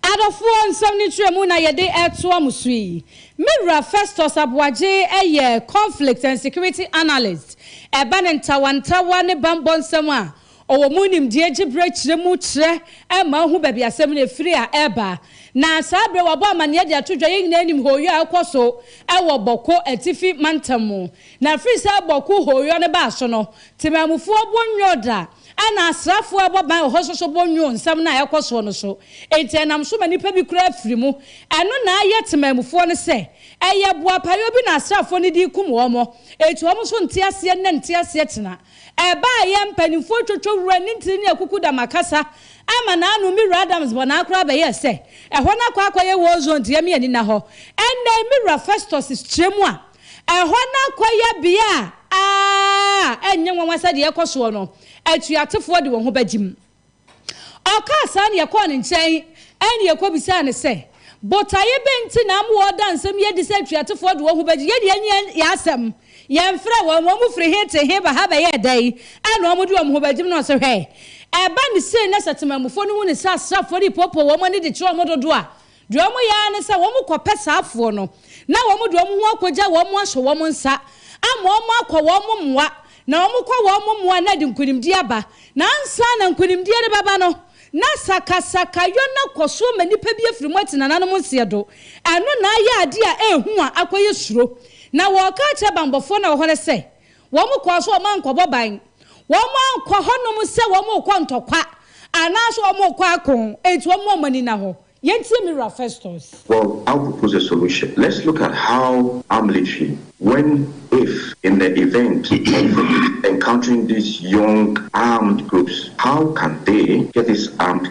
Adɔfoɔ, nsɛm no nkyerɛmu na yɛde retoa mo so yi. Me wura Festus Aboagye yɛ Conflict and Security Analyst, ɛba no ntawantawa ne bammɔ nsɛm a Ɔwɔ mu nimdeɛ gye berɛ kyerɛ mu kyerɛ ma ɔhu baabi asɛm no firi a ɛreba. Na saa berɛ wabɔ amanneɛ de ato dwa. Yɛn nyinaa nim hooyɔ a ɛkɔ so wɔ Bɔko Atifi mantam mu. Na ɛfiri sɛ Bɔko hooyɔ no baa so no, temanmufoɔ bo nnwoo da, ɛna asraafoɔ a ɛbɔ ban wɔ hɔ nso so bo nnwoo nsɛm no a ɛrekɔ soɔ no so. Enti ɛnam so ma nnipa bi koraa firi mu. Ɛno na ayɛ temanmufoɔ no sɛ ɛyɛ boapayɔ bi na asraafoɔ no de rekum wɔn. Enti wɔn nso nte aseɛ nnɛ, nte aseɛ kyena. Ɛbaeɛ a mpanimfoɔ twotwo wura ne ntini ne akuku dam akasa ama n'ano me wura Adams bɔ naa koraa bɛyɛɛ sɛ ɛhɔ no akɔ akɔyɛ war zone deɛ me ani nna hɔ ɛnnɛ yi me wura Festus kyerɛ mu a ɛhɔ no akɔyɛ bea a ɛnyɛ nwanwa sɛdeɛ ɛkɔ soɔ no atuatefoɔ de wɔn ho bɛgyem. Ɔkaa saa na yɛkɔɔ ne nkyɛn na yɛkɔbisaa no sɛ, Botaeɛ bɛn nti na ama wɔreda nsɛm yi adi sɛ atuatefoɔ de wɔn ho bɛgye yɛn deɛ nyɛ yɛn asɛm? Yɛmfrɛɛ wɔn, wɔn firi he te he ba ha bɛyɛɛ dɛn na wɔde wɔn ho bɛgyem? Na ɔse, Hwɛ! Ɛba no sei na sɛ temanmufoɔ no hu no sɛ asraafoɔ no repoopoo wɔn ani de kyerɛ wɔn dodoɔ a, Deɛ wɔyɛ ara ne sɛ wɔkɔpɛ saa afoɔ no, na wɔde wɔn ho akɔgya wɔn ahyɛ wɔn nsa, ama wɔakɔ wɔn mmoa, na wɔkɔ wɔn mmoa a na ɛde nkonimdie aba. Na ansa na nkonimdie rebɛba no, na sakasakayɔ no akɔ so ma nnipa bi afiri mu ate nananom nseɛ do. Ɛno na ayɛ adeɛ a ɛyɛ hu a akɔyɛ suro. Na wɔka akyerɛ banbɔfoɔ no a wɔwɔ hɔ no sɛ, Wɔkɔɔ so a wɔankɔbɔ ban. Wɔankɔ hɔnom sɛ wɔrekɔ ntɔkwa anaasɛ wɔrekɔ ako. Enti wɔn wɔn ani nna hɔ. Yɛntie me wura Festus. Well, I will propose a solution. Let's look at how our military, when, if, in the event of encountering these young armed groups, how can they get these armed.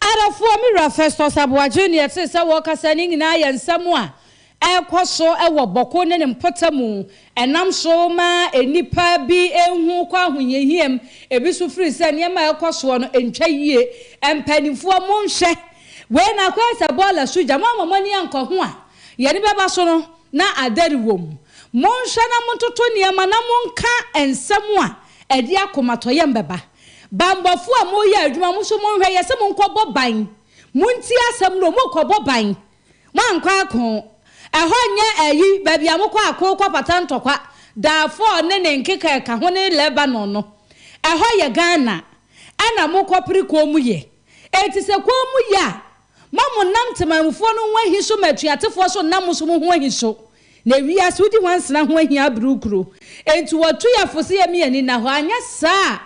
Arafoɔ, me wura Festus Aboagye, nea ɛtee sɛ wɔrekasa no nyinaa yɛ nsɛm a ɛrekɔ so wɔ Bɔko ne ne mpɔtamu, ɛnam so ma nnipa bi hu kɔ ahohiahiam, ebi nso firi sɛ nneɛma a ɛrekɔ soɔ no ntwa yie. Mpanimfoɔ monhwɛ wei na akɔyɛ sɛ bɔɔla so gya, moamma mo ani ankɔ ho a yɛn ani bɛba so no na adɛre wɔ mu. Monhwɛ na montoto nneɛma na monka nsɛm a ɛde akomatɔyam bɛba. Banbɔfoɔ a moreyɛ adwuma mo nso monhwɛ yɛse monkɔbɔ ban montie asɛm no mokɔbɔ ban moankɔ ako ɛhɔ nyɛ ayi baabi a mokɔ ako kɔpata ntɔkwa Darfur ne ne nkeka ɛka ho ne Lebanon no ɛhɔ yɛ Ghana ɛna mokɔ pere koom yɛ enti sɛ koom yɛ a Ma mo nam temanmufoɔ no ho ahi so ma atuatefoɔ so nam so mo ho ahi so. Na wiase wodi nwansena ho ahia abere wo kuro. Enti wɔatu yɛn fo sɛ yɛmmi ani nna hɔ. Anyɛ saa a,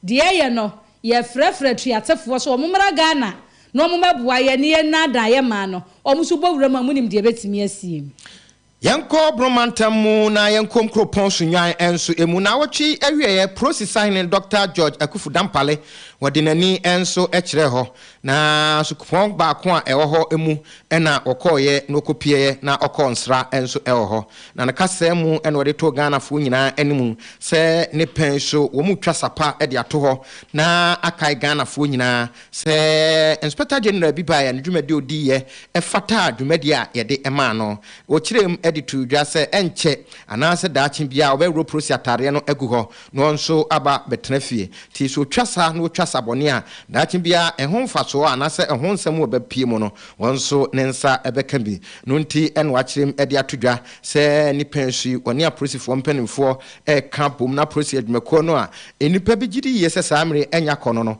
deɛ ɛyɛ no, yɛrefrɛfrɛ atuatefoɔ sɛ wɔmmra Ghana na wɔmmɛboa yɛn ne yɛnnaadaa yɛn mmaa no. Wɔn nso bɔ wuram a, monim deɛ ɛbɛtumi asie. Yɛnkɔ Borno mantam mu na yɛnkɔ nkuropɔn Sunyuan nso mu. Naawɔtwe yi awieɛ, Prosi sahene Dɔkta George Akufu Dampale, wɔde n'ani nso kyerɛɛ hɔ. Na sukupɔn baako a ɛwɔ hɔ mu na wɔkɔeɛ na wɔkɔpieeɛ na ɔkɔɔ nsra nso wɔ hɔ. Na ne kasaa mu na ɔde too Ghanafoɔ nyinaa anim sɛ ne pɛn so wɔretwa sa pa de ato hɔ na akae Ghanafoɔ nyinaa Sɛ Inspector General bi baeɛ a, ne dwumadi a ɔdiiɛ fataa dwumadi a yɛde maa no. Ɔkyerɛɛ mu de too dwa sɛ ɛnkyɛ anaasɛ daakye biara wɔbɛworɔ Prossy ataadeɛ no agu hɔ na ɔno nso aba abɛtena fie. Nti sɛ ɔtwa sa na ɔtwa sa bɔne a, daakye biara ɛho mfasoɔ anaasɛ ɛho nsɛm a ɛbɛpue mu no, ɔno nso ne nsa bɛka bi. Ɛno nti na wɔakyerɛ mu de ato dwa sɛ ne pɛn so yi, ɔne Aprosifoɔ mpanimfoɔ reka abom na Prossy adwumakuo no a nnipa bi gye di yie sɛ saa mmere anya kɔ no no,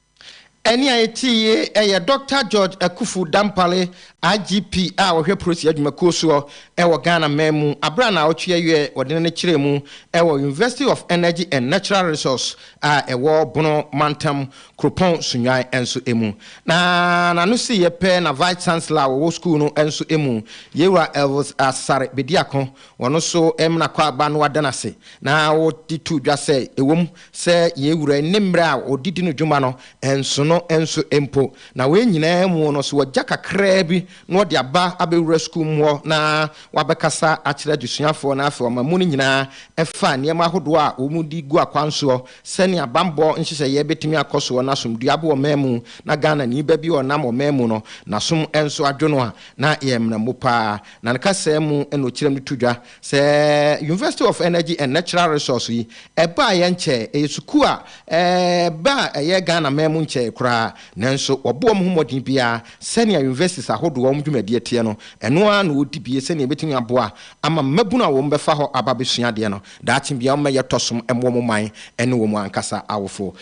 Ɛnne a yɛtiee yɛ Dɔkta George Akuffo Dampare, IGP a ɔhwɛ Polisi Adwumakuo soɔ wɔ Ghana man mu, aberɛ a naawɔtwe awiɛ ɔde n'ani kyerɛɛ mu wɔ University of Energy and Natural Resource a ɛwɔ Bono Mantam, Kuropɔn Sunyuan nso mu. Na n'ano siiɛ pɛ na Vice Chancellor a ɔwɔ sukuu no nso mu, Yewura Elvis Asare Bediako Wɔn nso mmara kɔ aba no ada no ase, na wɔde too dwa sɛ ɛwom sɛ yɛn Wura nni mmere a ɔde di no dwuma no nsono nso mpo. Na wei nyinaa mu no, sɛ wagya kakraa bi na ɔde aba abɛwura sukuu mu hɔ na wabɛkasa akyerɛ adesuafoɔ na afei ɔma mu no nyinaa ɛfa nneɛma ahodoɔ a wɔde gu akwan soɔ sɛnea bammɔ nhyehyɛeɛ bɛtumi akɔ soɔ na asomdwoeɛ aba ɔman mu na Ghanani ba bi a ɔnam ɔman mu no n'asom nso adwo no a, na ɛyɛ mmerɛmo pa ara. Na ne kasaa mu na ɔkyerɛm no to dwa sɛ University of Energy and Natural Resource yi, ɛbaeɛ nkyɛɛ, ɛyɛ sukuu a ɛba a ɛyɛ Ghana man mu nkyɛɛ koraa, nanso wɔbɔ wɔn ho mmɔden biara sɛnea universities ahodoɔ wɔn dwumadie teɛ no, ɛno ara na wɔdi bie sɛnea ɛbɛtumi aboa ama mmabunu a wɔbɛfa hɔ aba abɛsua adeɛ no daakye biara wɔmmɛyɛ tɔsom mma wɔn man ne wɔn ankasa awofoɔ.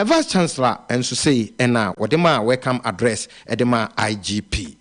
Vice Chancellor nso sei na wɔde maa welcome address de maa IGP.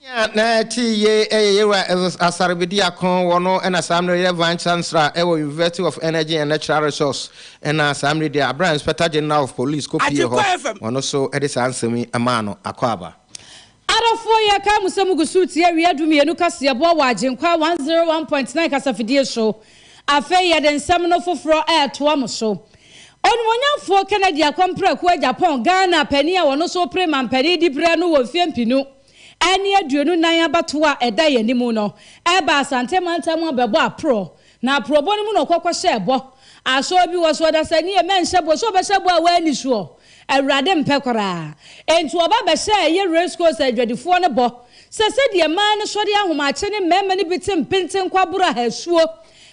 Nea na ɛte yiye yɛ yɛn wura Elders Asare Bediako, wɔn no na saa mmere yɛ Vine Chancellor wɔ University of Energy and Natural Resource na saa mmere deɛ abira Inspector General of Police kɔ pie hɔ, wɔn nso de saa nsɛm yi maa no akwaaba. Adɔfoɔ yɛkae mo sɛ mogu so retie Awia du mmienu kaseɛboa wɔ Agyenkwa one zero one point nine kasafidie so. Afei yɛde nsɛm no foforɔ retoa mo so. Onimuonyamfoɔ Kennedy Akɔmprɛko agya pɔn Ghana panin a ɔno nso repere mampanin diberɛ no wɔ mfeɛ mpenu ne aduonu nan abatoɔ a ɛda yɛn anim no baa Asante mantam abɛbɔ aporɔ na aporɔbɔ no mu na ɔkɔ kɔhyɛɛ bɔ asɔre bi wɔ so ɔdasani a mɛnhyɛ bɔ sɛ ɔbɛhyɛ bɔ a wanni soɔ Awurade mpɛ koraa enti ɔba bɛhyɛɛ yɛ Race Course adwadifoɔ no bɔ sɛ sɛdeɛ mmaa no sɔre ahomakye ne mmarima no bi te mpenten kɔ aboro ahasuo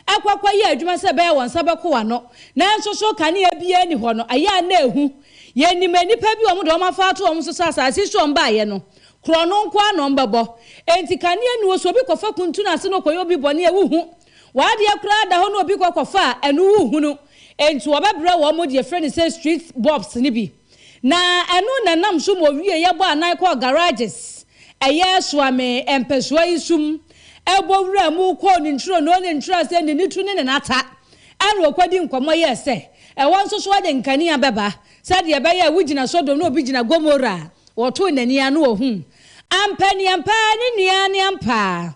Ɛkɔ akɔyɛ adwuma sɛ ɛbɛyɛ wɔn nsa bɛko wɔn ano. Nanso so kanea biara nni hɔ no? Ɛyɛ a na ehu. Yenim nnipa bi a wɔde wɔn afa ato wɔn so sɛ asase so a wɔbaeɛ no, korɔno nko ara na wɔbɛbɔ. Enti kanea nni hɔ, so obi kɔfa kuntu no ase na ɔkɔyɛ obi bɔne a, wuhu. W'adeɛ koraa da hɔ na obi kɔ kɔfa a, ɛno wuhunu. Enti wɔbɛbrɛ wɔn deɛ yɛfrɛ no sɛ street bulbs no bi. Na ɛno na ɛnam so ma owie yɛ bɔ anan kɔɔ garages ɛyɛ soa me mpɛsoa yi sum ɛbɔ wura mu kɔɔ ne ntwironoo ne nkyerɛsee ne ne tu ne ne nata ɛna ɔkɔdi nkɔmmɔ yɛɛ sɛ ɛhɔ nso so ɔde nkanea bɛba sɛdeɛ ɛbɛyɛ a wogyina sodom na obi gyina gomora a ɔtoo n'ani ano ohuu ampa ne ampa ne nea ne ampa a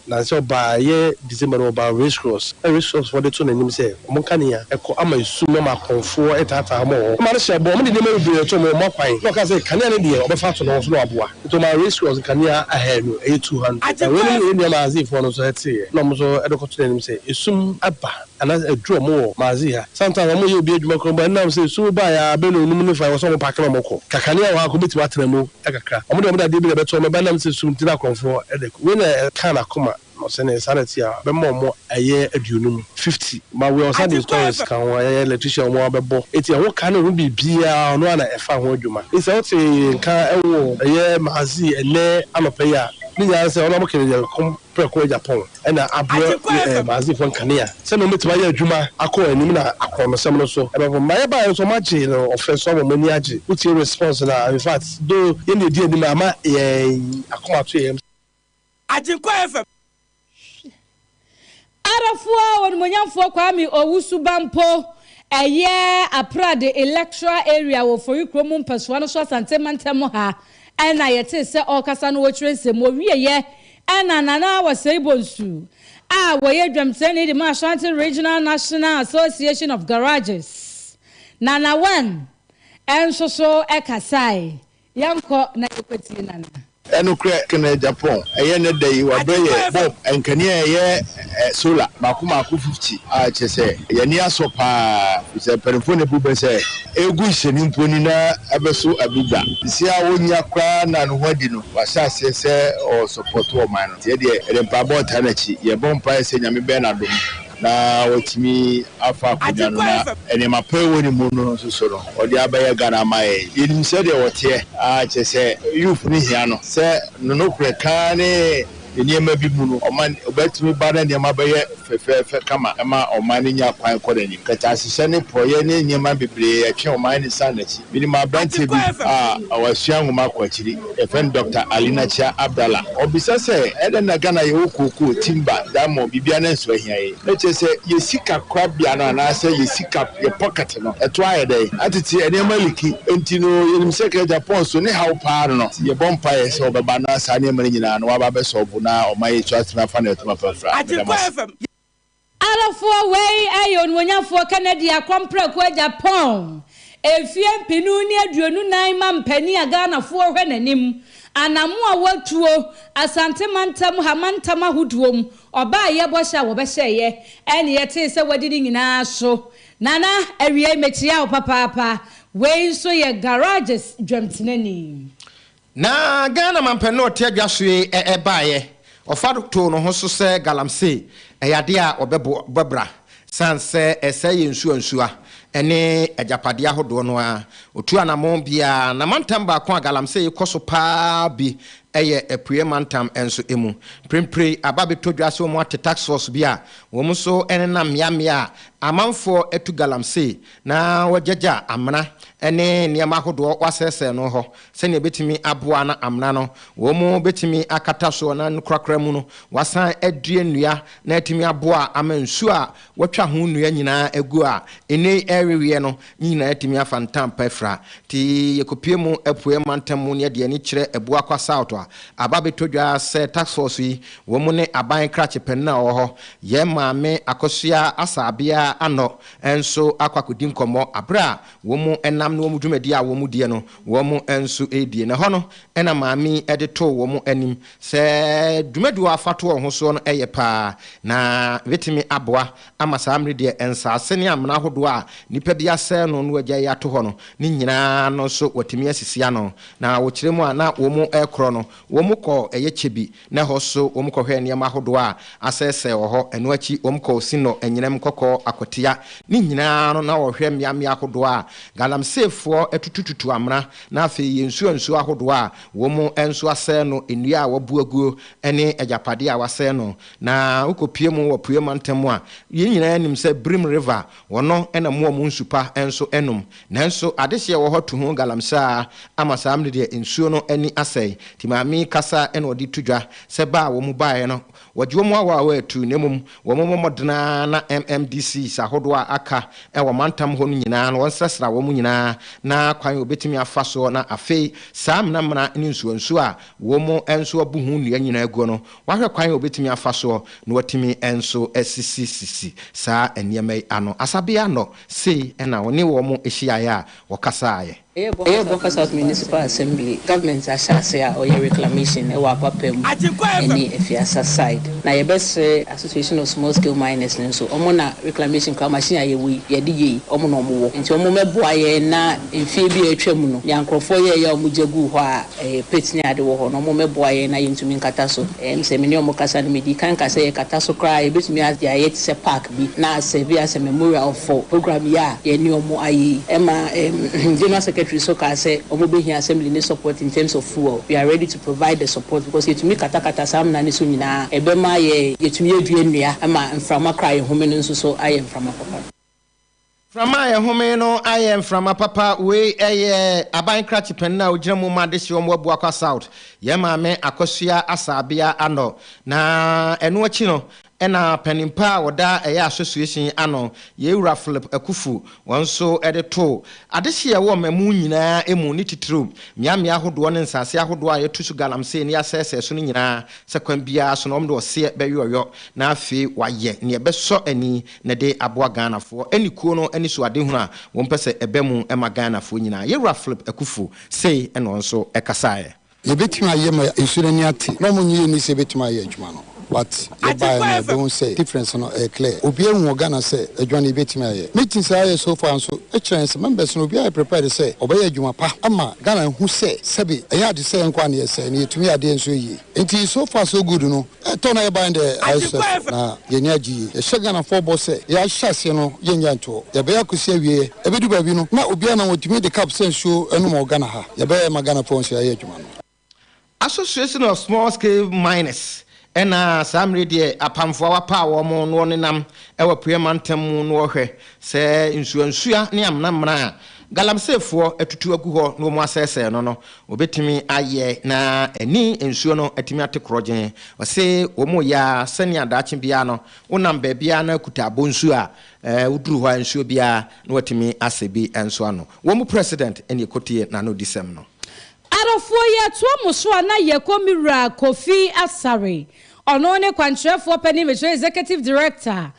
Nansɛ ɔbaa ɛyɛ December no ɔbaa Race Cross na Race Cross foɔ de to n'anim sɛ wɔn kanea ɛkɔ ama esum na wɔn akɔmfoɔ ɛtaataa wɔn wɔ hɔ. Ɔmaa no hyɛɛ bɔ, wɔn de nneɛma bebree ɛtoo wɔn akwan na ɔkaa sɛ kanea no deɛ ɔbɛfa ato ne ho so na waboa. Nti ɔmaa Race Cross nkanea ahaanu, ɛyɛ two hundred. Na wɔn ne yɛn nua Maazii foɔ no nso ɛteeɛ na wɔn nso ɛde kɔto n'anim sɛ esum aba anaa aduru wɔn wɔ Maazii ha. Sometimes wɔn yɛ obi adwuma koraa mpo a ɛnam sɛ esum baeɛ a bɛyɛ nnɔnum ne fa ɛwɔ sɛ wɔn paake na wɔn kɔ. Ka kanea wɔ ha a nka wɔbɛtumi atena mu a kakra. Wɔn de wɔn de adeɛ bi na ɛbɛto wɔn, ɛba nam sɛ sum nti na akorɔmfoɔ de ko. Wei na ɛkaa n'akoma na ɔsɛ nee saa na ɛte a bɛma wɔn ayɛ aduonum, fifty. But wei ɔsan de stories ka ho, ɛyɛ electrician a wɔn abɛbɔ. Enti ɛho ka ne ho biribiara ɔno ara na ɛfa ho adwuma. Enti sɛ wote nka wɔ ɛyɛ Maazii ɛnnɛ anɔpa yi a, ne nyinaa ne sɛ ɔno ara mo kɛnɛ deɛ ɛkɔm Prɛko Agya Paul na aboa Maaseifoɔ nkanea sɛdeɛ wɔbɛtumi ayɛ adwuma akɔ anim na akorɔnosɛm no so bɛba fam. Mayɛ baeɛ nso wɔagyee no ɔfrɛ so ama mo ani agye. Wotie response no a in fact though yɛn deɛ ɛdi anim a ama yɛn akoma ato yɛn yam sɛ. Agyenkwa FM. Hwɛ! Arafoɔ onimuonyamfoɔ Kwame Owusu-Bampoh ɛyɛ Aprade Electoral Area wɔ Fori Kurom mpɛsoa no so Asante Mantam mu ha. Ɛna yɛtee sɛ ɔrekasa na ɔrekyerɛ nsɛm. Ɔwieeɛ ɛna Nana Awasei Bonsu a ɔyɛ dwamkyerɛni de ma Ashanti Regional National Association of Garages, Nanawem, nso so kasae. Yɛnkɔ na yɛnkɔtie Nana. Ɛnokorɛ kena Japan ɛyɛ nnɛ da yi wabrɛ yɛ Bob ɛnkanea ɛyɛ solar mako mako fifty a kyerɛ sɛ yɛn ani asɔ paa firi sɛ mpaninfoɔ na ɛbu bɛ sɛ ɛregu nhyɛne mpo ni na abɛso abu bra sesie a ɔnnya koraa na ne ho adi no wahyɛ aseɛ sɛ ɔresɔpɔto ɔman no nti yɛ deɛ yɛde mpaebɔ retaa n'akyi yɛbɔ mpaeɛ sɛ Nyame bɛyɛ no adom na watumi afa akonwa no na nneɛma pa a ɛwɔ ne mu no nso so no ɔde abɛyɛ Ghana ama yɛn yɛnim sɛdeɛ ɔteɛ a kyerɛ sɛ youth no hia no sɛ no nokorɛ ka ne nneɛma bi mu no, ɔman bɛtumi ba na nneɛma bɛyɛ fɛfɛɛfɛ kama ma ɔman no nya kwan kɔ n'anim. Nkataahyehyɛ ne porɔeɛ ne nneɛma bebree ɛtwe ɔman no san n'akyi. Menim aberanteɛ bi a wasua nwoma kɔ akyiri, yɛfrɛ no Dɔkta Alina Kyia Abdallah. Ɔbisa sɛ, Ɛdɛn na Ghana yɛwɔ kookoo, timba, diamond, biribiara nanso ahia yɛn? Na kyerɛ sɛ yɛn sika korabea no anaasɛ yɛn sika, yɛn pocket, no, ɛto ayɛ dɛn? Ná tete nneɛma liki, enti no yenim sɛ Agya Paul so ne haw paa no no. Enti yɛbɔ mpae sɛ ɔbɛba na saa nneɛma no nyinaa no waba abɛsɔw bo na ɔma yɛn nso atumi afa nea ɛte ma pɛn fra. Meda mo ase. Arofoɔ wei yɛ onuonyafoɔ Kennedy Akɔmprɛko Agya Paul, mfeɛ mpenu ne aduonu nan mampanin a Ghanafoɔ hwɛ n'anim, anamo a watuo, Asante mantam ha mantam ahodoɔ mu, ɔbaa yɛbɔ hyɛ a wɔbɛhyɛeɛ, ɛne yɛtee sɛ wadi ne nyinaa so. Nana, awiei mekyea wo papaapa. Wei nso yɛ Garages dwamtenani. Na Ghana mampɛ no ɔte adwa so yi baeɛ. Ɔfa too ne ho so sɛ galamsey, ɛyɛ adeɛ a ɔbɛbɔ bra sane sɛ ɛsɛe yɛn nsuansuwa ne agyapadeɛ ahodoɔ no ara. Ɔtu anamɔn biara na mantam baako a galamsey kɔ so pa ara bi Ɛyɛ Apueɛ Mantam nso mu. Mprempren aba abɛtɔ dwa sɛ wɔate task force bi a wɔn nso nenam mmeammea a amanfoɔ atu galamsey na wɔagyagya amena ne nneɛma ahodoɔ wɔasɛesɛe no hɔ sɛnea ɛbɛtumi aboa na amena no wɔn bɛtumi akata soɔ na no korakora mu no wɔasan adua nnua na atumi aboa ama nsuo a wɔatwa ho nnua nyinaa agu a nnɛ yi ɛreweɛ no, ne nyinaa atumi afa ntam pa afira. Enti yɛkɔpue mu Apueɛ mantam mu neɛ deɛ ani kyerɛ Abu Akwa South a, aba abɛtɔ dwa ara sɛ Task Force yi, wɔn ne aban krakye panin a ɔwɔ hɔ, yɛn maame Akosua Asabea Anɔ nso akɔ akɔdi nkɔmmɔ berɛ a wɔn nam ne wɔn dwumadie a wɔn diɛ no, wɔn nso redie. Na ɛhɔ no na maame yi de too wɔn anim. Sɛ dwumadi a wɔafa to wɔn ho soɔ no yɛ paa a, na ɛbɛtumi aboa ama saa mmere deɛ nsaase ne amena ahodoɔ a nnipa bi asɛe no na wɔagyae ato hɔ no ne nyinaa no nso wɔatumi asisi ano. Na wɔ kyerɛ mu a na wɔrekorɔ no, wɔkɔɔ ɛyɛ kyɛ bi, na ɛhɔ nso wɔkɔhwɛɛ nneɛma ahodoɔ a asɛesɛe wɔ hɔ. Ɛno akyi wɔkɔɔ Sinɔ, Anyinam, Kɔkɔɔ, Akwatia, ne nyinaa no na wɔhwɛ mmeammea ahodoɔ a galamseefoɔ atutututu amena, na afei yɛ nsuo nsuo ahodoɔ a Wom nso asɛe no, nnua a wɔabu aguo ne agyapadeɛ a wɔasɛe no, na wokɔpue mu wɔ apueɛ mantam mu a, yɛn nyinaa nim sɛ Birim River, wɔno na mmoa mu nsu pa nso nom. Nanso adehyeɛ wɔ hɔ tuho galamsey ara ama saa mmere deɛ nsuo no ani asɛe. Timami kasa na wɔde to dwa sɛ ba a wɔn mu baeɛ no Wɔgye wɔn a wɔawɔ atuu na mmom wɔmmɔ mmɔden ara na MMDCs ahodoɔ a aka wɔ mantam hɔ no nyinaa no wɔnsrasra wɔn nyinaa na kwan a wɔbɛtumi afa soɔ na afei saa menamena ne nsuonsuo a wɔn nso abu ho nnua nyinaa guo no wɔahwɛ kwan a wɔbɛtumi afa soɔ na wɔatumi nso asisisisi saa nneɛma yi ano. Asabea no sei na wɔne wɔn hyiaeɛ a wɔkasaeɛ. Ɛyɛ Bokasat Municipal Assembly government ahyɛase a ɔyɛ reclamation wɔ Akwapam ne Afiasa side. Na yɛbɛsrɛ Association of Small Scale Miners no nso, wɔn na reclamation koraa machine a yɛwɔ yi yɛde yɛ yi, wɔn na wɔn wɔ. Nti wɔn mmɛboa yɛn na mfeɛ bi a atwa mu no, nea nkorɔfoɔ yɛɛyɛ a wɔn gya guu hɔ a ɛɛ pit ne ade wɔ hɔ no, wɔn mmɛboa yɛn na yɛntumi nkata so. Ɛɛ me sɛ me ne wɔn kasa no, me dii kan kaa sɛ yɛkata so koraa a yɛbɛtumi a de ayɛ te sɛ park. yi na sɛ bi a sɛ Memorial for program yi a yɛne wɔn ayɛ yi ɛma ɛɛm General Secretary nso kaa sɛ wɔn bɛhia Assembly ne support in terms of fuel we are ready to provide the support because yɛtumi katakata saa amena no so nyinaa ɛbɛma yɛ yɛtumi adua nnua ma mframa koro a yɛhome no nso so ayɛ mframa papa. Mframa a ɛhome no ayɛ mframa papa. Wei yɛ aban krakye panin a ɔgyina mu ma adehyeɛ wɔn abu akɔ south, yɛn maame Akosua Asabea Ano. Na ɛno akyi no na panin pa a ɔda ɛyɛ association ano, yɛn wura Philip Akufu, wɔn nso de too adehyeɛ ɛwɔ mmamu nyinaa mu, ne titiriw mmeammea ahodoɔ ne nsase ahodoɔ a yɛto so galamsey ne yɛasɛesɛe so no nyinaa sɛ kwan biara so no wɔde ɔseɛ bɛyɔyɔ na afei wɔayɛ nea ɛbɛsɔ ani na ɛde aboa Ghanafoɔ ne kuo no anisoadehunu a wɔpɛ sɛ ɛba mu ma Ghanafoɔ nyinaa. Yɛn Wura Philip Akuffo sei na ɔno nso kasaeɛ. Yɛbɛtumi ayɛ ma nsuo no ani ate na wɔn nnye nni sɛ ɛbɛtumi ayɛ adwuma no but yɛbaeɛ no yɛbɛhu sɛ difference no ɛyɛ clear. Obiara ahu wɔ Ghana sɛ adwuma no yɛbɛtumi ayɛ. Meetings a yɛayɛ so far nso kyerɛ yɛn sɛ members no obiara yɛ prepared sɛ ɔbɛyɛ adwuma pa ama Ghana ahu sɛ sɛbe ɛnyɛ ade sɛeɛ nko ara na yɛsɛe na yɛtumi yɛ adeɛ nso yie. Nti so far so good no ɛtɔ na yɛ ban dɛ ayɛ stress na yɛ ani agye yie yɛhyɛ Ghanafoɔ bɔ sɛ yɛ ahyɛ aseɛ no yɛ nnya ntoɔ yɛbɛyɛ akɔsi awieɛ ɛbɛdu baabi no na obiara nam ɔtumi de cup sɛ nsuo ɛnom wɔ Ghana ha yɛbɛyɛ ma Ghanafoɔ hu sɛ yɛayɛ adwuma no. Association of Small Scale Miners na saa mmere deɛ apamfoɔ a wɔapaw wɔn no wɔnenam wɔ Apueɛ Mantam mu na wɔhwɛ sɛ nsuansuwa ne amena mmena a Galamseyfoɔ atutu agu hɔ na wɔasɛesɛe no no, wɔbɛtumi ayɛ na ani nsuo no atumi ate korɔgyenn. Wɔse wɔn reyɛ ara sɛnea daakye biara no, wonam baabiara na akuta abɔnsuo a, ɛɛ, woduru hɔ a nsuo biara na wɔatumi asɛ bi nso ano. Wɔn mu President ne ɛkɔtie n'anodisɛm no. Arofoɔ yi atoa mo so a na yɛkɔ me wura Kofi Asare, ɔno ne kwankyerɛfoɔ panin, mekyerɛ Executive Director,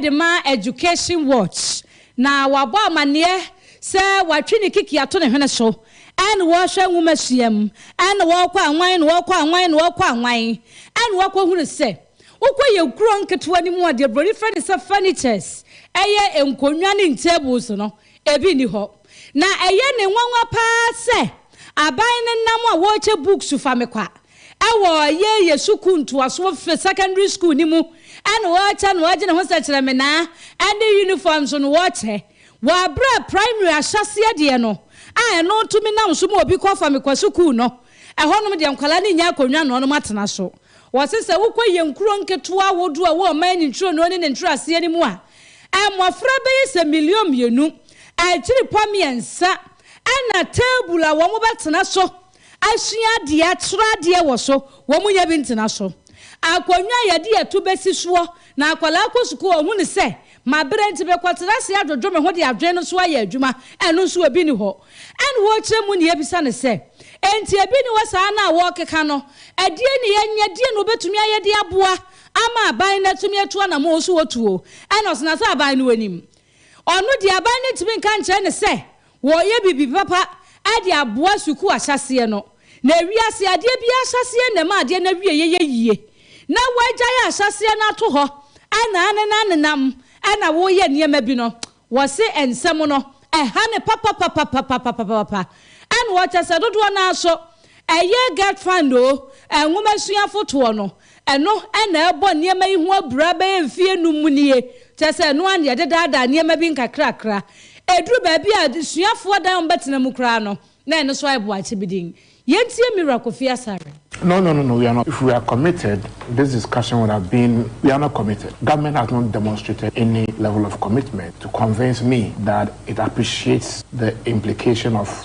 de ma Education Watch. Na wabɔ amanneɛ sɛ watwe ne kiki ato ne hwene so ɛna ɔrehwɛ nwomasua mu ɛna ɔrekɔ anwan ɛna ɔrekɔ anwan ɛna ɔrekɔ anwan ɛna wakɔhunu sɛ wokɔ yɛn kuro nketewa no mu a deɛ broni frɛ no sɛ furnitures ɛyɛ nkonnwa ne tables no ebi nni hɔ na ɛyɛ ne nwanwa paa sɛ aban no nam a wɔrekyɛ books fa me kwa Wɔ Yɛyɛ Sukuu Ntoasoɔ Fifth Secondary School no mu na wɔkyɛ na wɔgye ne ho sɛkyerɛmenaa ne uniform nso no wɔkyɛ. Wɔ aberɛ a Primary ahyɛaseɛ deɛ no a ɛno tumi nam so ma obi kɔ fa me kɔ sukuu no, ɛhɔnom deɛ nkwadaa no nnya akonnwa na wɔnom atena so. Wɔse sɛ wokɔ yɛn nkuro nketewa ahodoɔ a ɛwɔ ɔman nturo no ne ne nkyerɛaseɛ no mu a, mmɔfra bɛyɛ sɛ million mmienu, akyiripɔ mmiɛnsa na table a wɔbɛtena so, Asua adeɛ, akyerɛ adeɛ wɔ so, wɔn nyɛ bi ntena so. Akonnwa a yɛde ɛto bɛsi soɔ, na akwadaa kɔ sukuu a ɔhunu sɛ mabrɛ nti mekɔtena ase adwodwo me ho de adwene no so ayɛ adwuma, ɛno nso ebi nni hɔ. Ɛnna wɔrekyerɛ mu na yɛbisa no sɛ, Enti ebi nni hɔ saa no a wɔrekeka no, ɛdeɛn na yɛnyɛ, ɛdeɛn na wɔbɛtumi ayɛ de aboa ama aban no atumi atu anammɔn? Ɔsi wɔtuo. Ɛnna ɔtena sɛ aban no anim. Ɔno deɛ aban no ntumi nka nkyerɛ no sɛ Wɔreyɛ biribi papa de aboa sukuu ahyɛaseɛ no. Na ewiase adeɛ biara ahyɛaseɛ na ɛma adeɛ no awieeɛ yɛ yie. Na wɔagyae ahyɛaseɛ no ato hɔ na anenam nenam na woreyɛ nneɛma bi no, wɔse nsɛm no ɛha no papapapapapapapapa. Ɛna ɔkyɛ sɛ dodoɔ no ara nso ɛyɛ Get Fund o, nwoma suafotoɔ no, Ɛno na ɛrebɔ nneɛma yi ho abira bɛyɛ mfe anum nie, kyerɛ sɛ ɛno ara na yɛdedaadaa nneɛma bi nkakrakra. Ɛduru baabi a asuafoɔ dan a wɔbɛtena mu koraa no, na ɛno nso ayɛ boakye bi din. Yɛntie Mira Kofi Asare. No no no no we are not if we are committed this discussion would have been we are not committed government has not demonstrated any level of commitment to convince me that it appreciates the implication of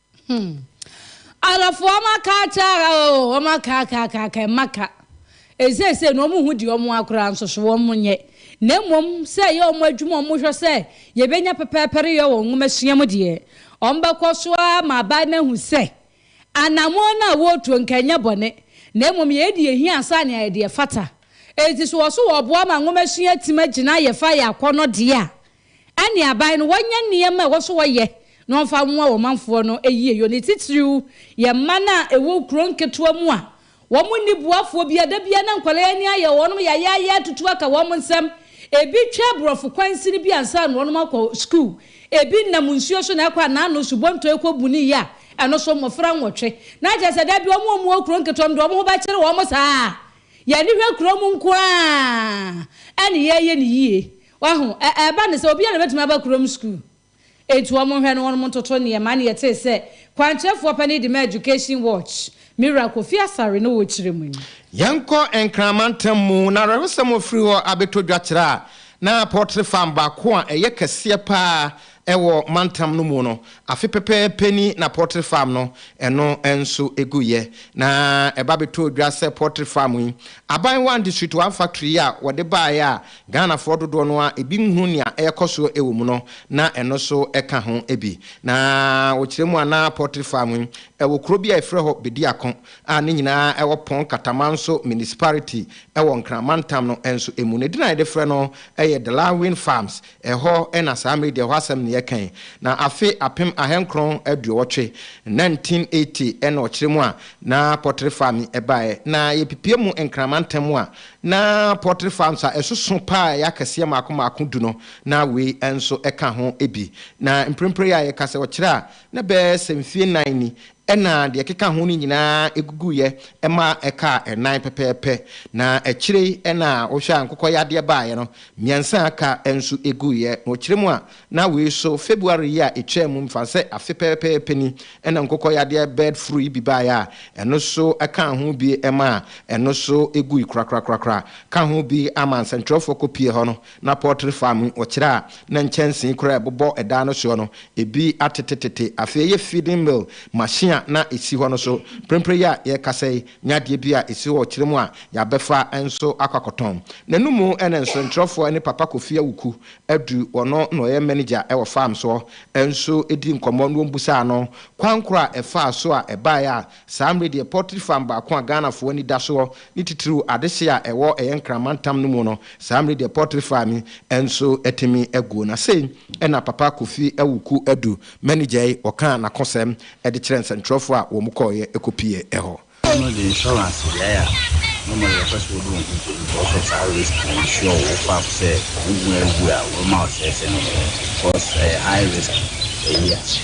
Hmm. Arabfoɔ wɔn aka akyɛ ara oo, wɔn aka aka aka aka, ɛmma aka. Eseesei no wɔn hu deɛ wɔn akora nso so wɔn nyɛ. Na mmom sɛ ɛyɛ wɔn adwuma a wɔn hwɛ sɛ yɛbɛnya pɛpɛɛpɛre yɛ wɔ nwoma sua mu deɛ, wɔn bɛkɔ so ara ma aban no ahu sɛ anammɔn no a wɔretuo nka ɛnyɛ bɔne, na mmom yɛyɛ deɛ ɛhia ansa na yɛayɛ deɛ ɛfata. Enti sɛ wɔso wɔboa ma nwoma sua tumi agyina yɛfa yɛ akɔnnɔ deɛ a, Ɛne aban no wɔnyɛ nneɛma a ɛwɔ sɛ wɔyɛ na wɔmfa mmoa wɔn manfoɔ no yieyɔ. Ne titiriw yɛ man a ɛwɔ kuro nketewa mu a wɔnni boafoɔ biara. Da biara na nkwadaa yi ani ayɛ wɔn yayaaya atutu aka wɔn nsam. Ebi twa aborɔfo kwan sini bi ansa na wɔn akɔ sukuu. Ebi nam nsuo so na ɛkɔ anaano subɔntɔ yi kɔ Buni yi a ɛno so mmɔfra nwɔtwe. Na kyerɛ sɛ da bi wɔn a wɔwɔ kuro nketewa mu deɛ wɔn ho bɛkyere wɔn saa a, yɛn ani hwɛ kurom nko ara na yɛyɛ no yie. Wahu? Ɛ, ɛba no sɛ obiara na obetumi aba kurom sukuu. Enti wɔnhwɛ no, wɔnom ntoto nneɛma. Na yɛtee sɛ kwankyerɛfoɔ panin de maa Education Watch, me wura Kofi Asare, na ɔrekyerɛ mu yi. Yɛnkɔ Nkran mantam mu, na awerɛhosɛm a wɔfiri hɔ abɛtɔ dwa kyerɛ a na Poultry Farm baako a ɛyɛ kɛseɛ pa ara Ɛwɔ mantam no mu no, afe pɛpɛɛpɛ ni na poultry farm no ɛno nso guiɛ. Na ɛba bɛtɔɔ dwa sɛ poultry farm yi, Aban One District One Factory yi a wɔde baeɛ a Ghanafoɔ dodoɔ no ara bi nhunu nea ɛrekɔ so wɔ mu no, na ɛno nso ka ho bi. Na wɔkyerɛ mu a na poultry farm yi wɔ kuro bi a wɔfrɛ hɔ Bediako a ne nyinaa wɔ Pong Katamanso Municipality wɔ Nkran mantam no nso mu. Ne din a yɛde frɛ no yɛ Delawin Farms. Ɛhɔ na saa Media hɔ asɛm no yɛ kan, na afe apem ahankron aduɔwɔtwe, 1980, na ɔkyerɛ mu a na pɔtere faa me baeɛ, na yɛpipia mu nkrama ntɛm a na pɔtere faa nso a ɛsoso paa a ɛyɛ akɛseɛ mmaako mmaako du no, na wei nso ka ho bi. Na mprempren yi a yɛka sɛ ɔkyerɛ a na ɛbɛyɛ sɛ mfeɛ nnan ni Ɛnna deɛ ɛkeka ho no nyinaa guguiɛ ma ɛkaa ɛnan pɛpɛɛpɛ, na akyire yi na wohwɛ a nkokɔyadeɛ baeɛ no, mmiɛnsa a aka nso guiɛ. Na wɔkyerɛ mu a, na wei nso, February yi a ɛtwaa mu, mefa no sɛ afe pɛpɛɛpɛ ni, ɛnna nkokɔyadeɛ bird flu yi bi baeɛ a ɛno nso kaa ho bi maa ɛno nso gui korakorakorakora, ka ho bi ama nsɛntwerɛfoɔ kɔpue hɔ no, Na pɔltre fam no, wɔkyerɛ a na nkyɛnsee koro a ɛbobɔ dan no soɔ no, ebi atetetete. Afei ɛyɛ feeding mill machine a na ɛsi hɔ no so. Mprempren yi a yɛrekasa yi, na adeɛ bi a ɛsi hɔ wɔ kyerɛ mu a yɛabɛfa nso akɔ akɔtɔn. N'anom na nsorenkyerɛfoɔ ne Papa Kofi Awuku Adu, ɔno na ɔyɛ manager wɔ farm soɔ, nso dii nkɔmmɔ na wɔbisaa no kwan korɔ a ɛfaa so a ɛbaeɛ a Saa mmere deɛ poultry farm baako a Ghanafoɔ ani da soɔ ne titiriw adehye a ɛwɔ ɛyɛ Nkran mantam no mu no, saa mmere deɛ poultry farm yi nso atumi aguo. Na sei na Papa Kofi Awuku Adu, manager yi, ɔkaa n'akosɛm de kyerɛɛ nsɛnkyerɛwfoɔ a wɔn kɔeɛ kɔpiee hɔ. Wɔn de insurance beaeɛ a normally wɔpɛ sɛ wɔde wɔn ho to because of saa risk no insure wo farm sɛ wo ho agu a, wɔma wo sɛsɛ no because ɛyɛ high risk area.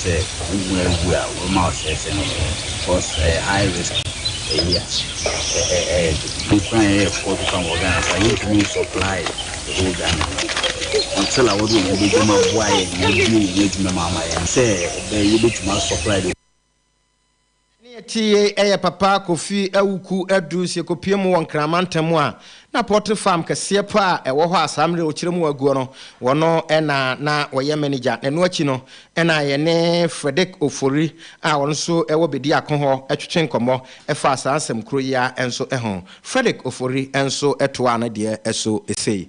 Sɛ owu mu awu a wo ma ɔsɛe sɛ ne yɛ because ɛyɛ high risk ɛyi a ɛ ɛ ɛyɛ de bi koraa a yɛyɛ fo de pam wɔ Ghana koraa yɛntumi nsupply the whole Ghana no until a wɔde owu bɛgyam aboa yɛn na abue yɛn adwuma mu ama yɛn sɛ ɛbɛyɛ yɛbɛtumi asupply the Ɛne ɛteeɛ yi yɛ Papa Kofi Awuku aduru nso yɛkɔpue mu wɔ Nkran mantam mu a na poultry farm kɛseɛ paa a ɛwɔ hɔ a saa mmerɛ ɔkyerɛ mu aguɔ no wɔno na na ɔyɛ manager na ɛno akyi no na yɛne Fredrick Ofori a ɔno nso wɔ Bediako hɔ twetwe nkɔmmɔ faa saa nsɛm koro yi ara nso ho. Fredrick Ofori nso toaa ne deɛ so sei.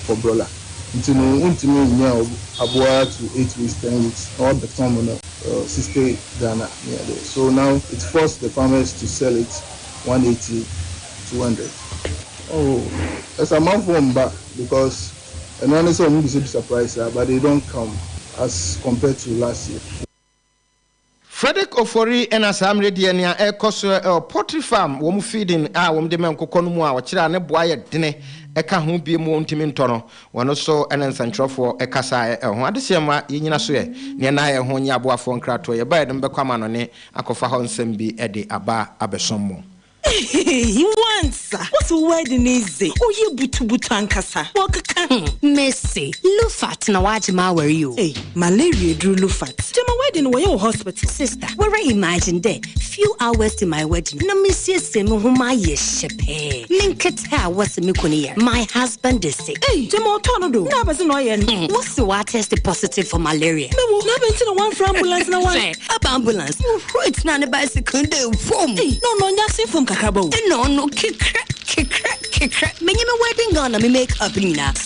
for broiler nti no wontumi nnya aboa to eight weeks ten weeks na wabɛtɔn mo no sixty Ghana ne adeɛ so now it force the farmers to sell it one eighty two hundred. Oh ɛsɛ amanfoɔ mba because ɛno ara ne sɛ wɔn bisabisa price a but they don't come as compared to last year. Frederick Ofori na saa mmerɛ deɛ nea ɛrekɔ so wɔ poultry farm wɔn feeding a wɔn de ma nkokɔ no mu a ɔkyerɛ a ne boa yɛ dene ɛka ho bie mu wɔntumi ntɔ no wɔn nso ne nsɛntwerɛfoɔ kasaɛ ɛho adesɛɛ mu a yɛnyina so ɛ neɛ na yɛ ho nyɛ aboafoɔ nkratoɔ yɛbaɛ de mobɛkɔ amannɔne akɔfa hɔ nsɛm bi de aba abɛsom mo. Ehehehe Wansa wo se wo wedding yi dze ɔyɛ butubutu ankasa wɔkeka ho. Mese Lufat na wagye m'awar yi o. Ei malaria eduru Lufat gyama wedding no wɔyɛ wɔ hospital. Sister wara imagine dɛ few hours to my wedding na mesiesie moho mayɛ hyɛ pɛɛ menketse. pɛ a wɔse me kunu yɛ no, my husband de se, Ei! gyama ɔtɔɔ no do, na abɛse na ɔyɛ no. Hmm, wose woatɛste positive for malaria. Mewɔ, na abɛn nti na woamfrɛ ambulance na woan. Sɛ aba ambulance, whoi tenaa ne bicycle do fom. Ei! na ɔno ɔnyɛ asen fam kakraba o. Nna ɔno kekrɛ, kekrɛ, kekrɛ, menye me wedding gown na me make up no nyinaa.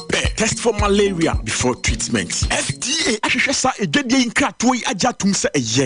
pɛ test for malaria before treatment fda ahwehwɛ saa adwadie yi nkratoɔ yi agye atom sɛ ɛyɛ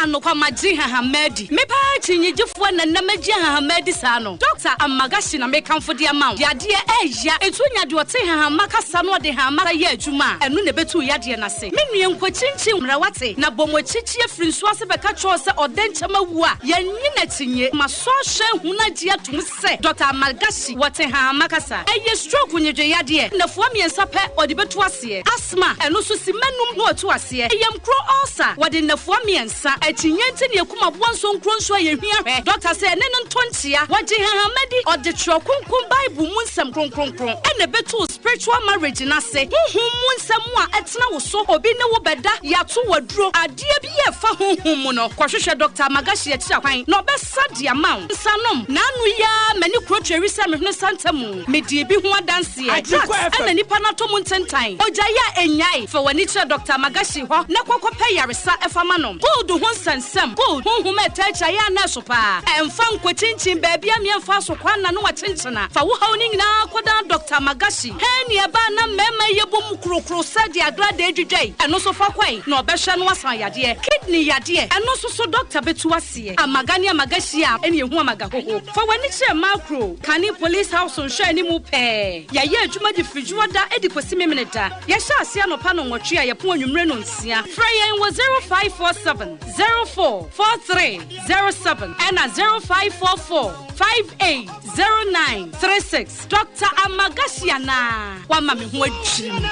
anokwa magye hahama adi me paa kyinnyegyefoɔ na nnam agye hahama adi saa no dɔkta amagashi na mekamfo de ama wo yadeɛ ɛɛya ɛtu nya deɛ ɔte hahama kasa no ɔde hahama sa yɛ adwuma a ɛno na ɛbɛtu yadeɛ no ase me nua nkwa kyinkyin mmerɛ wate na bɔ mo akyikyi afiri nsuo ase bɛka kyerɛw sɛ ɔdɛ nkyɛm awu a yɛnye n'akyinye ma sɔ hyɛ hunu agye atom sɛ Dɔkta Al-Malghashi wɔ Tehama kasa. Ɛyɛ stroke nnwedweyadeɛ nnafua mmiɛnsa pɛ ɔde bɛtu aseɛ. Asthma, ɛno nso simma nnum na ɔtu aseɛ. Yamkuro ulcer, wɔde nnafua mmiɛnsa. Akyinnye nti na yɛkum aboa nsuo nkuro nso a yɛhia hwɛ. Dɔkta sɛ ɛne no ntɔ nkyea. Wɔgye Tehama di. Ɔde Twerɛ Kronkron Bible mu nsɛm kronkronkron na ɛbɛtu wo spiritual marriage no ase. Honhom mu nsɛm mu a ɛtena wo so. Obi ne wo bɛda, yɛato wo aduro. Adeɛ biara a ɛfa honhom mu no, kɔhwehwɛ Dɔkta Al-Malghashi akyiri akwan na ɔbɛs. Sa de ama wo nsa nom. Naanu yi ara m'ani kuro tweri sɛ mehunu santa mu. Medi ebi ho adanseɛ. Drugs ɛna nipa no atɔ mu ntentan. Ogyae a ɛnnyae. Fa w'ani kyerɛ Doctor Magashi hɔ na kɔ kɔpɛ yaresa ɛfa ma no. Cold ho nsɛnsɛm, cold, honhom a ɛtaa kyɛ ayɛ anɛɛso paa. Ɛmfa nkɔkyinkyin baabi a mmea mfaa so kwan na ne wakyenkyena. Fa wo haw no nyinaa kɔdan Doctor Magashi. Hɛn ne ɛbaa na mmarima yi yɛbɔ mu korokoro sɛ deɛ agradaa dwidwae. Ɛno nso fa kɔe na ɔbɛhwɛ na wasan yadeɛ. Kidney yadeɛ, ɛno nso so Doctor bɛtu w'ase. aseɛ. Amaga ne amaga hyia a ɛne ɛhu amaga hoho. Fa w'ani kyerɛ macro, kane police house nhwɛ anim pɛɛ. Yɛyɛ adwuma de firi dwoɔ da de kɔsi memene da. Yɛhyɛ aseɛ anɔpa no nwɔtwe a yɛpon anwummere no nsia. Frɛ yɛn wɔ 0547 04 4307 ɛna 0544 58 09 36. Doctor Amagashi anaa wama me ho adwiri me.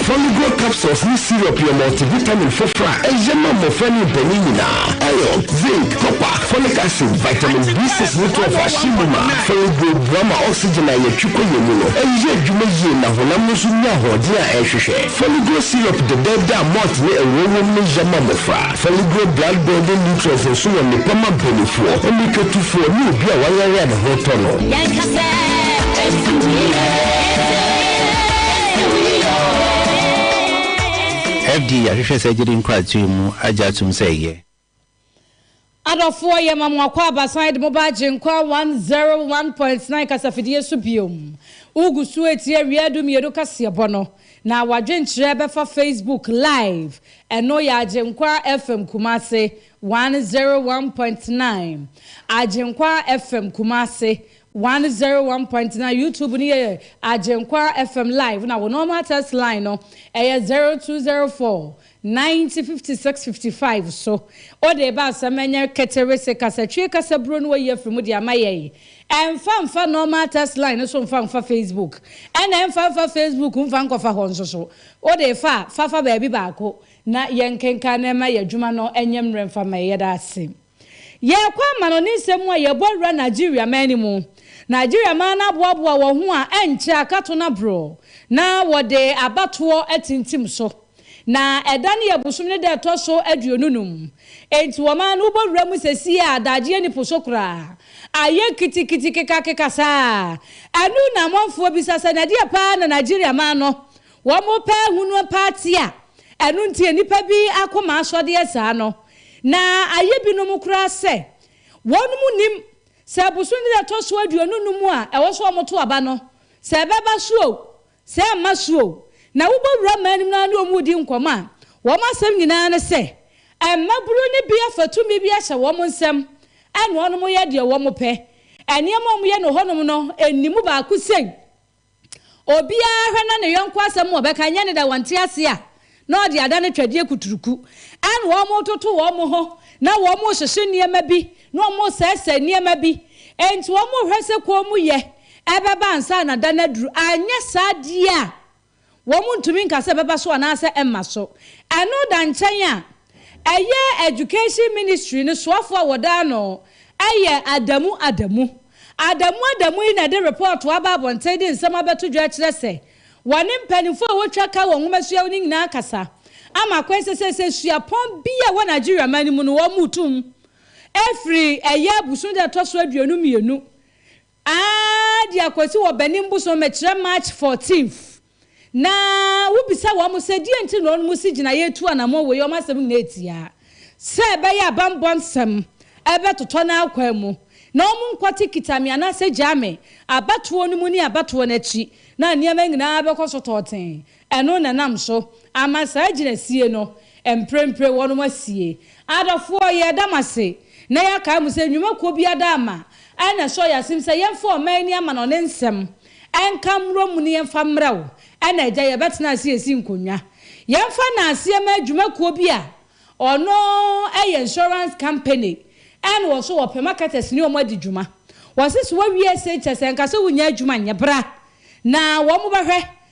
Foligo capsules ne syrup yɛ multivitamin foforɔ a ɛyɛ ma mmɔfra ne mpanyin nyinaa. Iron, zinc, copper, folic acid, vitamin B6 ne 12 a hyɛ mu ma. Foligo boa ma oxygen a yɛtwe kɔ yɛn mu no yɛ adwuma yie na honam no nso nya ahoɔden a ɛhwehwɛ. Foligo syrup dɛdɛɛdɛ a malt ne ngo wom no yɛ ma mmɔfra. Foligree blood building nutrients nso wɔ nnepa ma banifoɔ, mmirikatufoɔ ne obi a wayare a ne ho retɔ no. Yɛnka sɛ, Ɛsi wo yie, ɛsi wo yie, ɛsi wo yie oo. FDA ahwehwɛ sɛ ɛgyede nkratoe mu agye atom sɛ ɛyɛ. Adɔfoɔ yɛma mo akwaaba san de moba Agyenkwa 101.9 kasafidie so biom. Wogu so retie Wiadu Mmienu kaseɛbɔ no. Na w'adwenkyerɛ bɛfa Facebook live ɛno yɛ Agyenkwa FM Kumasi one zero one point nine Agyenkwa FM Kumasi one zero one point nine YouTube no yɛ Agyenkwa FM live na wo normal text line no ɛyɛ zero two zero four 1956–55 so, wode reba asɛm a ɛnyɛ ketewee sɛ kasatwie kasaburo no wayi afiri mu de ama yɛn. Ɛmfa mfa normal text line no so mfa mfa Facebook, ɛna ɛmfa mfa Facebook mfa nkɔfa hɔ nso so. Wode refa a, fa fa baabi baako na yɛnkenkan na ɛma yɛn adwuma no nyɛ mmerɛ mfa mma yɛn. Yɛda ase. Yɛɛkɔ amanɔne nsɛm mu a yɛɛbɔ awura Nigeria man no mu. Nigeria man no aboaboa wɔn ho a ɛnkyɛ akato no aboro na wɔde abatoɔ atintim so. Na ɛda no yɛ bosome no da a ɛtɔ so aduonu num. Enti wɔman no wobɔ awura mu sesie a adagyeɛ nni po so koraa. Ayɛ kitikiti kekakeka saa. Ɛno na amanfoɔ bisa sɛ na ɛdeɛ paa na Nigeria man no Wɔpɛ ahonu pa ate a, ɛno nti nnipa bi akoma asɔ deɛ saa no, na ayɛ binom koraa sɛ wɔnom nnim sɛ bosome da ɛtɔ so aduonu num a ɛwɔ sɛ wɔto aba no, sɛ ɛbɛba so o, sɛ ɛmma so o, na wobɔ wura mmaa anim no ara ne wɔn redi nkɔmmɔ a, wɔn asɛm nyinaa ne sɛ mmabunu no bi afa tumi bi ahyɛ wɔn nsam na wɔyɛ deɛ wɔpɛ. Nneɛma a wɔyɛ no hɔnom no, nni mu baako sei. Obiara hwɛ na ne yɔnko asɛm a ɔbɛka nyɛ ne dɛ wɔnte ase a, na ɔde adane twɛdeɛ kuturuku. Ɛna wɔretoto wɔn ho, na wɔrehyehye nneɛma bi, na wɔresɛesɛe nneɛma bi. Enti wɔrehwɛ sɛ kommyɛ bɛba ansa na da no aduru. Anyɛ saa deɛ a, Wɔntumi nka sɛ ɛbɛba so anaasɛ ɛmma so. Ɛno da nkyɛn a, ɛyɛ Education Ministry no soafo a wɔda ano yɛ Adamu Adamu. Adamu Adamu yi na ɛde repɔɔto aba abɔnten de nsɛm abɛto dwa akyerɛ sɛ wɔne mpanimfo a wɔtwa ka wɔ nwoma suahu no nyinaa akasa ama akwan sɛ seesei suapɔn bi a ɛwɔ Nigeria man no mu no wɔretu mu afiri ɛyɛ abusoo da a ɛtɔ so aduonu mmienu Aah de akwasi wɔ Benin bosom mekyerɛ March fourteenth na wo bisa wɔn sɛ deɛ nti na wɔn si gyinaeɛ tu anamɔ wei wɔn asɛm nyinaa ɛtia sɛ ɛbɛyɛ a banbɔ nsɛm ɛbɛtotɔ no akwan mu na wɔn nkɔte kita me anaasɛ gyaa me abatoɔ no mu ne abatoɔ no akyi na nneɛma nyinaa bɛkɔ so tɔɔtee Ɛno na ɛnam so ama saa agyinasie no mprempren wɔnom asie. Adɔfoɔ, yɛreda mo ase na yɛakae mo sɛ nnwuma kuo biara da ama a na ɛsɔ yɛn asem sɛ yɛmfa ɔman ani amanɔne nsɛm nka mmrɔ mu no yɛmfa mmrɛ wo na agya yɛbɛtena ase asi nkonnwa yɛmfa no aseɛ mma adwuma kuo bi a ɔno yɛ insurance company ɛna wɔ so wɔpɛ marketers ne wɔn adi dwuma wɔse so wawie ese kyɛ sɛ nka sɛ wonya adwuma nyɛ bra na wɔn bɛhwɛ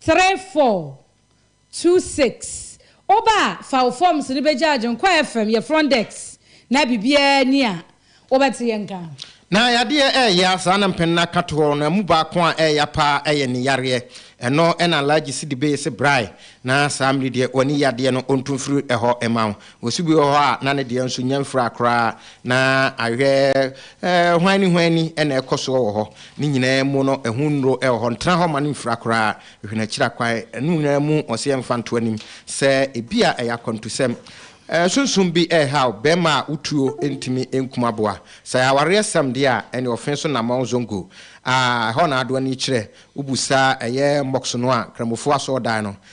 three four two six Woba a, fa wo forms no bɛgyaagye nkɔ FM, yɛ front desk, na biribiara nni a wobɛte yɛn nka. Na yadeɛ ɛɛya saa na mpanin aka to hɔ na ɛmu baako a ɛɛya paa ɛyɛ ne yareɛ ɛno ɛna Alhaji Sidi Bey se brae na saa mmiri deɛ wani yadeɛ no ɔntu mfiri ɛhɔ mma wo Osu bi wɔ hɔ a na ne deɛ nso nyɛ mfra koraa, na ahwɛ hwanni hwanni na ɛkɔ soɔ wɔ hɔ. Ne nyinaa mu no, ɛho nnuro wɔ hɔ, ntena hɔ mma no mfira koraa, hwɛ n'akyiri akwan. Ɛno nyinaa mu, wɔse yɛmfa nto anim sɛ ebia ɛyɛ akwantusɛm. Sunsum bi rehaw barima a wotuo ntumi nkum aboa. Sɛ ɛyɛ awareɛsɛm deɛ a, ɛnneɛ ɔfe so Namong Zongo a ɛhɔ na adoa no yi kyerɛ. Wobu saa ɛyɛ Mbox no a Kramofoɔ asɔɔdan no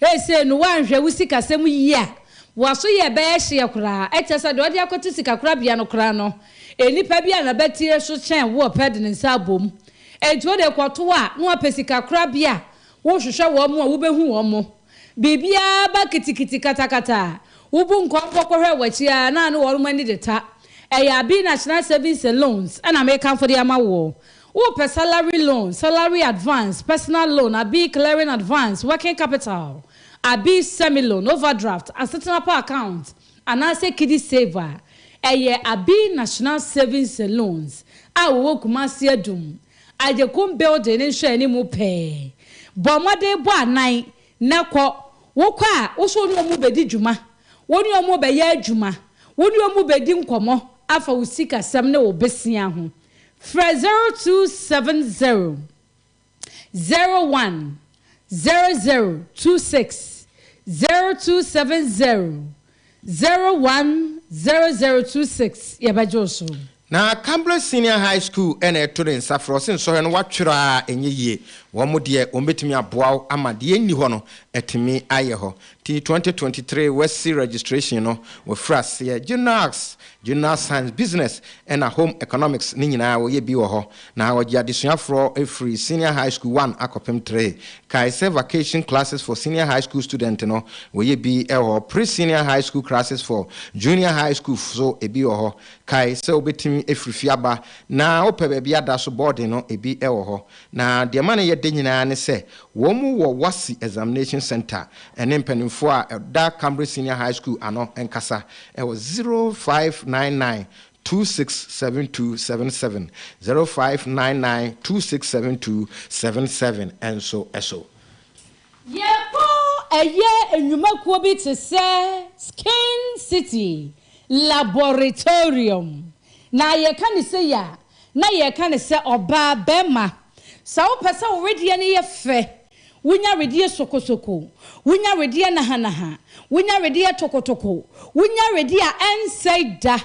Seesei no, woanhwɛ wo sikasɛm yie a, w'aso yɛ bɛyɛ hyeɛ koraa. Ɛkyerɛ sɛ deɛ wode akɔto sikakorabea no koraa no, nnipa bi a n'abatire so kyɛn wo ɔpɛ de ne nsa abom. Enti wode rekɔto a, na woapɛ sikakorabea a worehwehwɛ wɔn a wobɛhu wɔn. Biribiara ba kitikiti katakata a, wobu nkɔmpɔ kɔhwɛ w'akyi ara na ne wɔn ani de ta. Ɛyɛ Abina Kyena Savings and Loans na mekamfo de ama woɔ. Wopɛ salary loan, salary advance, personal loan, abi clearing advance, working capital, abi semi-loan, overdraft, asetena pa account, anaasɛ Kidisafe a, ɛyɛ abi National Savings and Loans a wɔwɔ Kumasi Adum, Agyekum Building no nhwɛani mu pɛɛ. Bɔ mmɔden bɔ anan na kɔ. Wokɔ a, wo nso wo ne wɔn bɛdi dwuma, wo ne wɔn bɛyɛ adwuma, wo ne wɔn bɛdi nkɔmmɔ afa wo sikasɛm ne wo bosea ho. Frɛ 0270 01 0026, 0270 01 0026, Yɛbɛgye wo so. Na Kambra Senior High School na ɛto ne nsa frɛ wo se nsɔhwɛ no wɔatwerɛ a ɛnyɛ yie. Wɔn deɛ wɔbɛtumi aboa wo ama deɛ ɛnni hɔ no atumi ayɛ hɔ. Ti twenty twenty three Wasi registration no wafiri aseɛ General Arts, General Science, Business ɛna Home Economics ne nyinaa wɔyɛ bi wɔ hɔ na wɔgye adesua foɔ firi Senior High School one akɔpem three Kae sɛ Vacation Classes for Senior High School Student no wɔyɛ bi wɔ Pre Senior High School Classes for Junior High School nso ebi wɔ hɔ Kae sɛ wobɛtumi afiri fie aba na wopɛ baabi ada so boarding no ebi wɔ hɔ Na deɛ ɛma no yɛ dɛ nyinaa ne sɛ, wɔn wɔ WASSCE Examination Centre ne mpanimfoɔ a ɛda Cambridge Senior High School ano nkasa wɔ zero five nine nine two six seven two seven seven, zero five nine nine two six seven two seven seven, nso so. Yɛbɔ ɛyɛ nnwumakuo bi te sɛ Skin City Laboratorium. Na yɛka no sei a, Na yɛka no sɛ ɔbaa bɛrima. Sɛ wopɛ sɛ wo wedeɛ no yɛ fɛ, wonya wedeɛ sokosoko, wonya wedeɛ nahanaha, wonya wedeɛ tokotoko, wonya wedeɛ a ɛnsɛe da,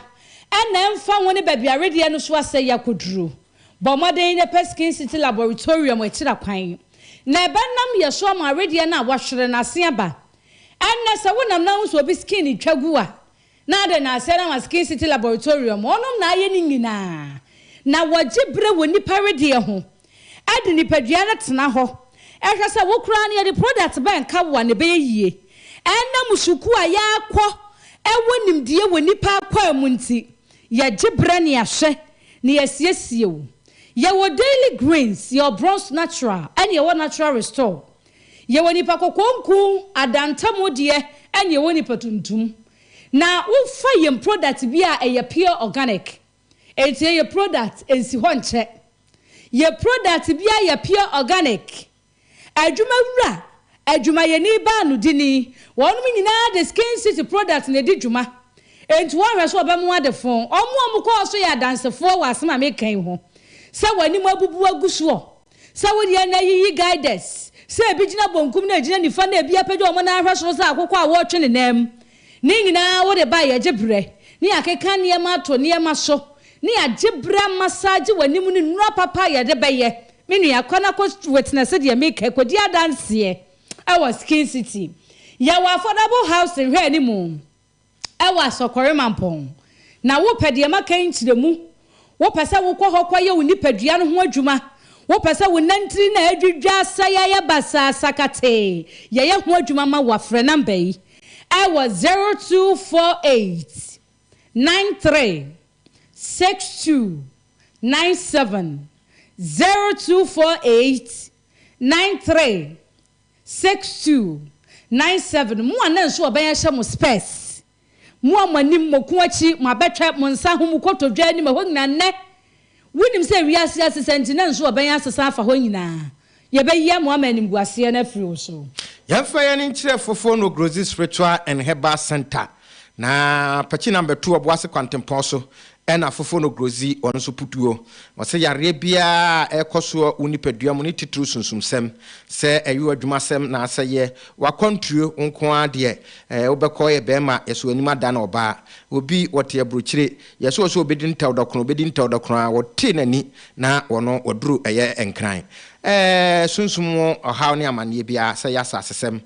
ɛna ɛmfa ho ne baabi a wedeɛ no so asɛe akɔduru, bɔ mmɔden na pɛ Skin City Laboratorium akyira kwan na ɛbɛnam yɛ so ama wedeɛ no a wɔahwere no asen aba. Ɛnnɛ, sɛ wonam na wohu sɛ obi skin retwa gu a, Na adɛn na Sarawas King City Laboratorium wɔnom na ayɛ ne nyinaa, na wɔgye berɛ wɔ nnipa wedeɛ ho, de nipadua no tena hɔ, hwɛ sɛ wo koraa no yɛde product bɛn ka wo a na ɛbɛyɛ yie, ɛnam sukuu a yɛakɔ wɔ nimdeɛ wɔ nnipa akwaa mu nti, yɛgye berɛ na yɛahwɛ na yɛasiesie wo. Yɛwɔ Daily Greens, yɛwɔ Bronze Natural, ɛne yɛwɔ Natural Restore. Yɛwɔ nnipa kɔkɔɔ nku adantamu deɛ ɛne yɛwɔ nnipa tuntum. Na wofa yɛn product bi a ɛyɛ pure organic. Ɛnti ɛyɛ product ɛnsi hɔ nkyɛ. Yɛn product biara yɛ pure organic. Adwuma wura, adwumayɛni baa no dini, wɔnom nyinaa de Skin City product na ɛdi dwuma. Ɛnti wɔnhwɛ sɛ wɔbɛmo adefo. Wɔn a wɔkɔɔ so yɛ adansefoɔ wɔ asɛm a meka yi ho sɛ wɔn anim abubu agu soɔ. Sɛ wo deɛ na yiyi guiders sɛ ebi gyina bonkum na egyina nifa na ebi apagya wɔn nan ahwɛ soro sɛ akokɔ a wɔretwe ne nan mu. Ne nyinaa wo de bae yɛgye brɛ ne yɛakeka nneɛma ato nneɛma so ne yɛagye brɛ amasaagye w'anim ne nnura papa a yɛde bɛyɛ. Me nua, kɔ na kɔ witness deɛ meka yi, kɔdi adanseɛ wɔ Skin City. Yɛwɔ affordable housing, hwɛ anim. wɔ Asɔkɔre Mampɔn, na wopɛ deɛ maka yi nkyerɛmu, wopɛ sɛ wokɔ hɔ kɔyɛ wo nipadua no ho adwuma, wopɛ sɛ wo nantiri no a adwidwa asɛe ayɛ basaa sakatee yɛyɛ ho adwuma ma wo a, frɛ namba yi wɔ 0248 93 62 97, 0248 93. Six two, nine seven, Mo a na nsu ɔbɛn ahyɛ mo spɛs, mo a mo anim, mo ko akyi, mo abɛtwɛ, mo nsa ho, mo kotodwe anim, ɛhɔ nyinaa, nnɛ, wunim sɛ wiase asesa nti na nsu ɔbɛn asesa afa hɔ nyinaa? Yɛbɛyɛ mo ama animguaseɛ no afiri wo so. Yɛmfa yɛn ani nkyerɛ Fofono Grodzi's Ritual and Herbal Centre Na pɛkyi nam bɛto ɔbo ase kwantempɔn so ɛna foforo no grodzi ɔno nso putuo. Wɔsɛ yareɛ biara a ɛrekɔ soɔ wo nipadua mu ne titiriw sunsumsɛm, sɛ ɛyɛ wo adwumasɛm naasɛ yɛ w'akwantuo nko ara deɛ, ɛɛ wobɛkɔ yɛ bɛɛma yɛsɔ w'anim ada no ɔbaa. Obi wɔte aburokyire, yɛsɔ ɔsɛ ɔbɛdi ntɛw dɔkono, ɔbɛdi ntɛw dɔkono ara wɔte n'ani na ɔno waduru ɛyɛ nkran. Ɛɛ sunsum mu ɔhaw ne amaneɛ biara, sɛ ɛyɛ asasesɛm,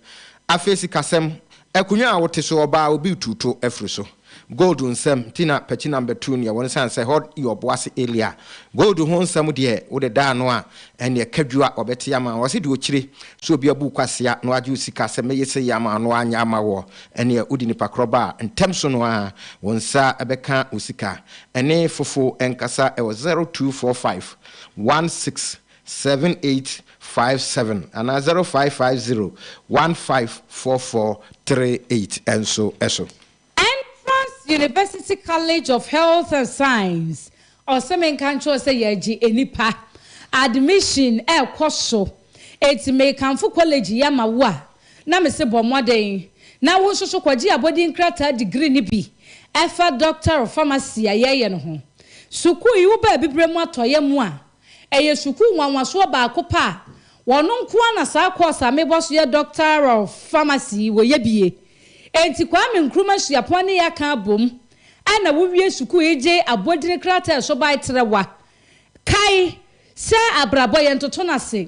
afei sikasɛm, Akonwa a wote so ɔbaa obi retu to afiri so. Gold nsɛm nti na Pati Nam bɛtuu neɛ wɔn sane sɛ hɔd yɛ ɔboase area. Gold ho nsɛm deɛ wode da ano a ɛneɛ ka dwu a ɔbɛte ama wo. Ɔse deɛ ɔkyire sɛ obi abu kwasea na wagye wo sika sɛ mɛyɛ sei ama wo na wanyɛ ama woɔ ɛneɛ wode nipa korɔ ba a ntɛm so no ara wo nsa bɛka wo sika. Ɛne fofo nkasa ɛwɔ zero two four five one six seven eight five seven anaa zero five five zero one five four four three eight nso so. Entrance University College of Health and Science, Ɔse menka nkyerɛ wo sɛ yɛgye nnipa, admission ɛrekɔ so, enti mekamfo kɔlege yi ama wo a, na mese bɔ mmɔden na wo nso so kɔgye abɔdin krataa degree no bi ɛfa Doctor of Pharmacy a yɛreyɛ no ho. Sukuu yi wo baa abibirem atɔeɛ mu a, Ɛyɛ sukuu nwanwasoɔ baako pɛ a wɔn nko ara na saa kɔɔse a mebɔ so yɛ Doctor of Pharmacy yi wɔyɛ bi yɛ. Enti Kwame Nkrumah Suapɔn ne yɛn aka abom a na wowie sukuu yi gye abodini krataa a ɛso bae trɛwa. Kae sɛ abrabɔ yɛntoto no ase.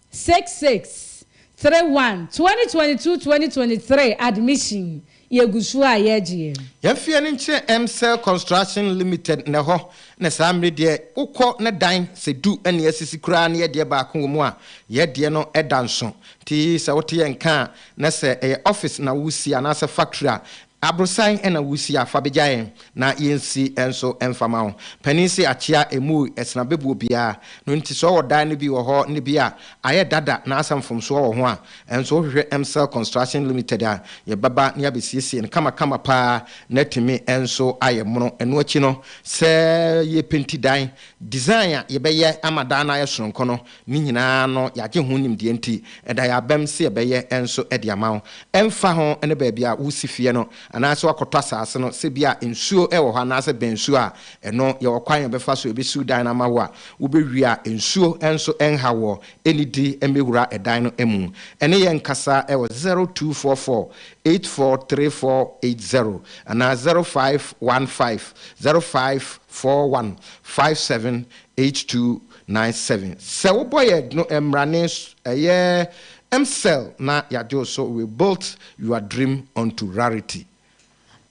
Six six three one twenty twenty two twenty twenty three admission yɛgu so a yɛgyeɛ. Yɛn fie no nkyerɛ Mcell construction limited na ɛhɔ na saa mmere deɛ wo kɔ na dan sɛ du na yɛasisi koraa na yɛdeɛ baako wɔ mu a yɛdeɛ no da nso nti sɛ wote yɛn nka a na sɛ ɛyɛ office na wo si anaasɛ factory a Abrosan na wusi a fa begya yɛn na yensi nso mfa ma wo. Panin se akyea emui ɛsena bebuo biaa no nti sɛ ɔwɔ dan no bi wɔ hɔ ne bi a ayɛ dada na asɛ mfomsoɔ wɔ ho a nso wohwehwɛ Mcell Construction Limited a yɛbɛba ne abesiesie no kama kama paa na atumi nso ayɛ mono. Ɛno akyi no sɛ yɛpenti dan design a yɛbɛyɛ ama dan no ayɛ sononko no Ne nyinaa no, yɛagye ho nimdeɛ nti, ɛda yɛn abam sɛ yɛbɛyɛ nso de ama wo. Ɛmfa ho ne baabi a woresi fie no anaasɛ woakɔtɔ asase no, sɛ ebia nsuo wɔ hɔ anaasɛ bɛn nsuo a, ɛno yɛwɔ kwan a yɛbɛfa so yɛbɛsiw dan no ama wo a wobɛwie a nsuo nso renha woɔ. Nnidi mmɛwura dan no mu. Ɛne yɛn nkasa wɔ zero two four four eight four three four eight zero anaa zero five one five zero five four one five seven eight two Nine seven sɛ wo bɔ yɛ dno ɛmra ne so ɛyɛ msel na yagye wo so we built your dream onto rarity.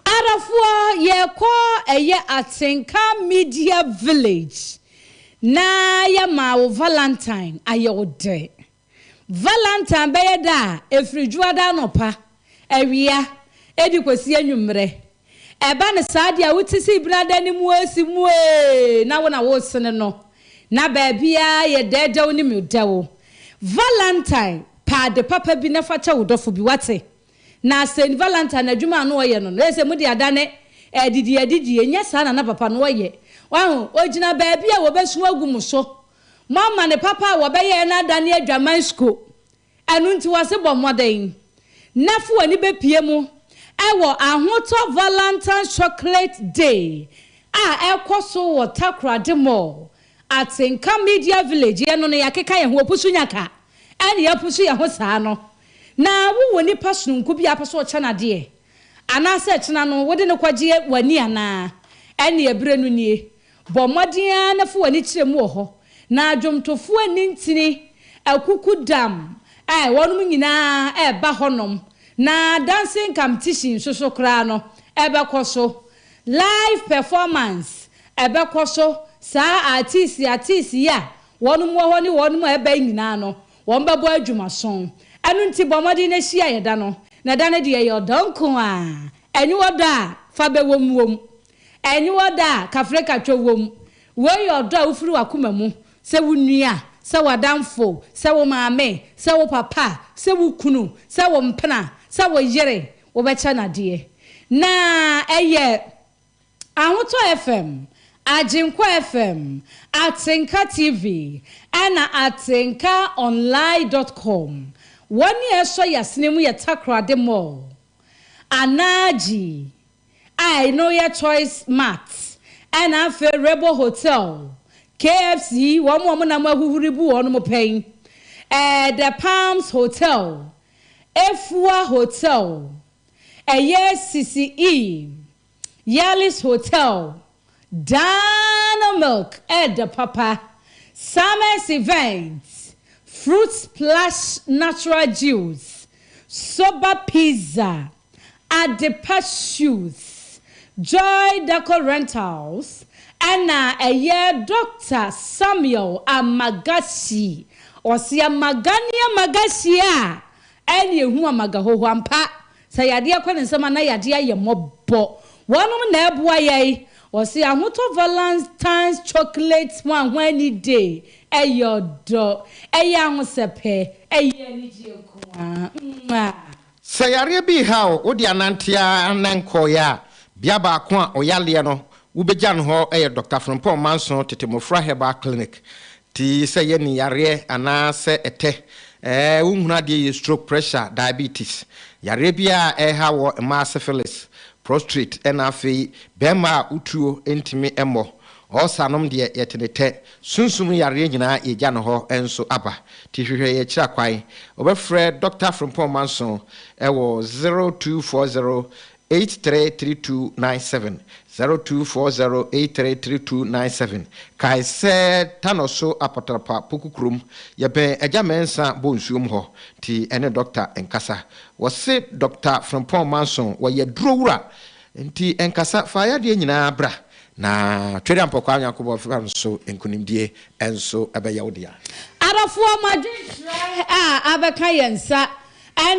Arafoɔ yɛkɔ ɛyɛ atenka media village na yɛmaa wo valentine ayɛ wo dɛ. Valentine bɛyɛ da a ɛfiri Dwoada anɔpa, awia, de kɔsi anwummerɛ. Ɛba no saa deɛ a, wote sɛ ebunu ada no mu a, si mu ee, na wo na woresene no, na baabiara yɛ dɛɛdɛw ne mudɛw. Valentine, pɛ ade papa bi na fa kyɛ wo dɔfo bi, woate? Na Saint Valentine adwuma a na ɔyɛ no no, ɛyɛ sɛ mode adane adidiadidie, ɛnyɛ saa na na papa no ɔyɛ? Wahu? Ɔgyina baabi a wɔbɛsu agu mo so, Moama ne papa a wɔbɛyɛɛ no adane adwaman skuo. Ɛno nti wɔse bɔ mmɔden na fa w'ani bɛpue mu wɔ Ahotɔ Valentine's Chocolate Day a ɛrekɔ so wɔ Takoradi Mall, Atenka Media Village. Yɛn no no yɛakeka yɛn ho, wɔpusu nya ka na yɛapusu yɛn ho saa no. Na wowɔ nipa sononko bi a wopɛ sɛ wokyɛ no adeɛ anaasɛ kyena no wode no kɔgye w'ani anaa? Ɛnneɛ berɛ no nie. Bɔ mmɔden ara na fa w'ani kyerɛ mu wɔ hɔ, na dwomtofoɔ anni ntini, akukudam, ɛ, wɔnom nyinaa ɛreba hɔnom, na dancing competition nso so koraa no, ɛbɛkɔ so. Live performance, ɛbɛkɔ so, saa artiste artiste yi a wɔnom wɔ hɔ ne wɔnom a ɛreba yi nyinaa no, wɔbɛbɔ adwumaso. Ɛno nti bɔ mmɔden na hyia yɛn da no, na da no deɛ ɛyɛ ɔdɔ nko ara, ɛnyɛ ɔdɔ a fa bɛwom wom, Aniwa dɔ a kafrekatwa wom. Wei yɛ ɔdɔ a wofiri w'akoma mu, sɛ wo nua, sɛ w'adamfo, sɛ wo maame, sɛ wo papa, sɛ wo kunu, sɛ wo mpena, sɛ wo yere, wobɛkyɛ no adeɛ. Na ɛyɛ Ahotɔ FM, Agyenkwa FM, Atenka TV, ɛna Atenka Online dɔt kɔm. Wɔn a ɛsɔ yɛn asene mu yɛ Takoradi Mall, Anaa Gyi a eno yɛ Choice Mart ɛna afei Rebel Hotel, KFC, wɔn a wɔnam ahuhuri bu wɔn mo pɛn, ɛɛ The Palms Hotel, Afua Hotel, ɛyɛ Sisi E, Yallis Hotel, Dano Milk ɛɛdɛ papa, Summer's Event, Fruit Splash Natural Juice, Soba Pizza. Adepa Suits, Joy Decor Rentals ɛna ɛyɛ Dɔkta Samuel Amagashi ɔse amaga ne amagashi a ɛne ehu amaga hoho ampa sɛ yadeɛ kɔ ne nsam a na yadeɛ ayɛ mmɔbɔ wɔnom na ɛboa yɛn ɔse ahotɔ Valentine's Chocolate ho ahɔnni day ɛyɛ ɔdɔ ɛyɛ ahosɛpɛ ɛyɛ anigyeɛ nko ara. Sɛ yareɛ bi reha wo, wode anante ara na nkɔeɛ a, bea baako a ɔyaleɛ no wobɛgya no hɔ yɛ Dɔkta Frimpong Manso Tete Mmofra Herbal Clinic. Ti sɛ yɛ ni yareɛ anaa sɛ ɛtɛ, ɛɛ wonhunu adeɛ yie, stroke, pressure, diabetes, yareɛ biara a ɛreha wɔ mmaa syphilis, prostrate ɛna afei bɛɛma a wotuo ntumi mmɔ Ɔɔsa nom deɛ yɛte ne tɛ. Sunsum no yareɛ nyinaa yɛgya no hɔ nso aba. Ti hwehwɛ yɛ akyira kwan. Wobɛfrɛ Dɔkta Frimpong Manson wɔ 0240833297, 0240833297. Kae sɛ Tanɔ so Apatrapa Poku kurom, yɛbɛn Agya Mɛnsa bɔ nsuom hɔ. Nti ɛne Dɔkta nkasa. Wɔse Dɔkta Frimpong Manson wɔyɛ aduro wura. Nti nkasa fa yadeɛ nyinaa bra, na Tweria Mpɔkwaa Nyankopɔn fa nso nkunimdie nso bɛyɛ wo dea. Adɔfoɔ mo adwenkyerɛ a abɛka yɛn nsa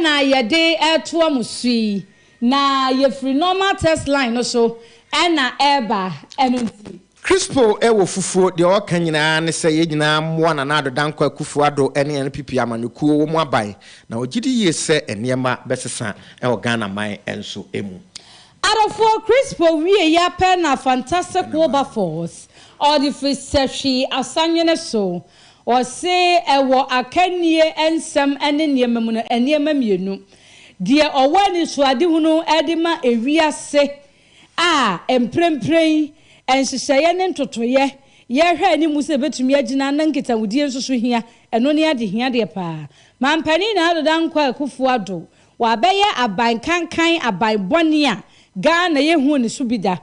na yɛde retoa mo so yi, na yɛfiri normal text line no so na ɛreba, ɛno nti. Crispo wɔ fufuo, deɛ ɔreka nyinaa ne sɛ yɛn nyinaa mmoa Nana Addo Dankwa Akufo Addo ne NPP amanyɔkuo wɔ mu aban, na ɔgye di yie sɛ nneɛma bɛsesa wɔ Ghana man nso mu. Adɔfoɔ Crispo wieeɛ ara pɛ na Fantastic Wilberforce ɔde firi sɛ hwee asanwene so. Ɔse wɔ akannie nsɛm ne nneɛma mu no, nneɛma mmienu deɛ ɔwɔ anisoadehunu de ma ewiase a mprempren nhyehyɛeɛ ne ntotoeɛ yɛrehwɛ anim sɛ ɛbɛtumi agyina na nkitahodie nso so hia, ɛno ne adehia deɛ paa. Mampanin Ado Dankwa Akuffo Addo, wabɛyɛ aban kankan aban bɔne a Ghana yɛhuu ne so bi da,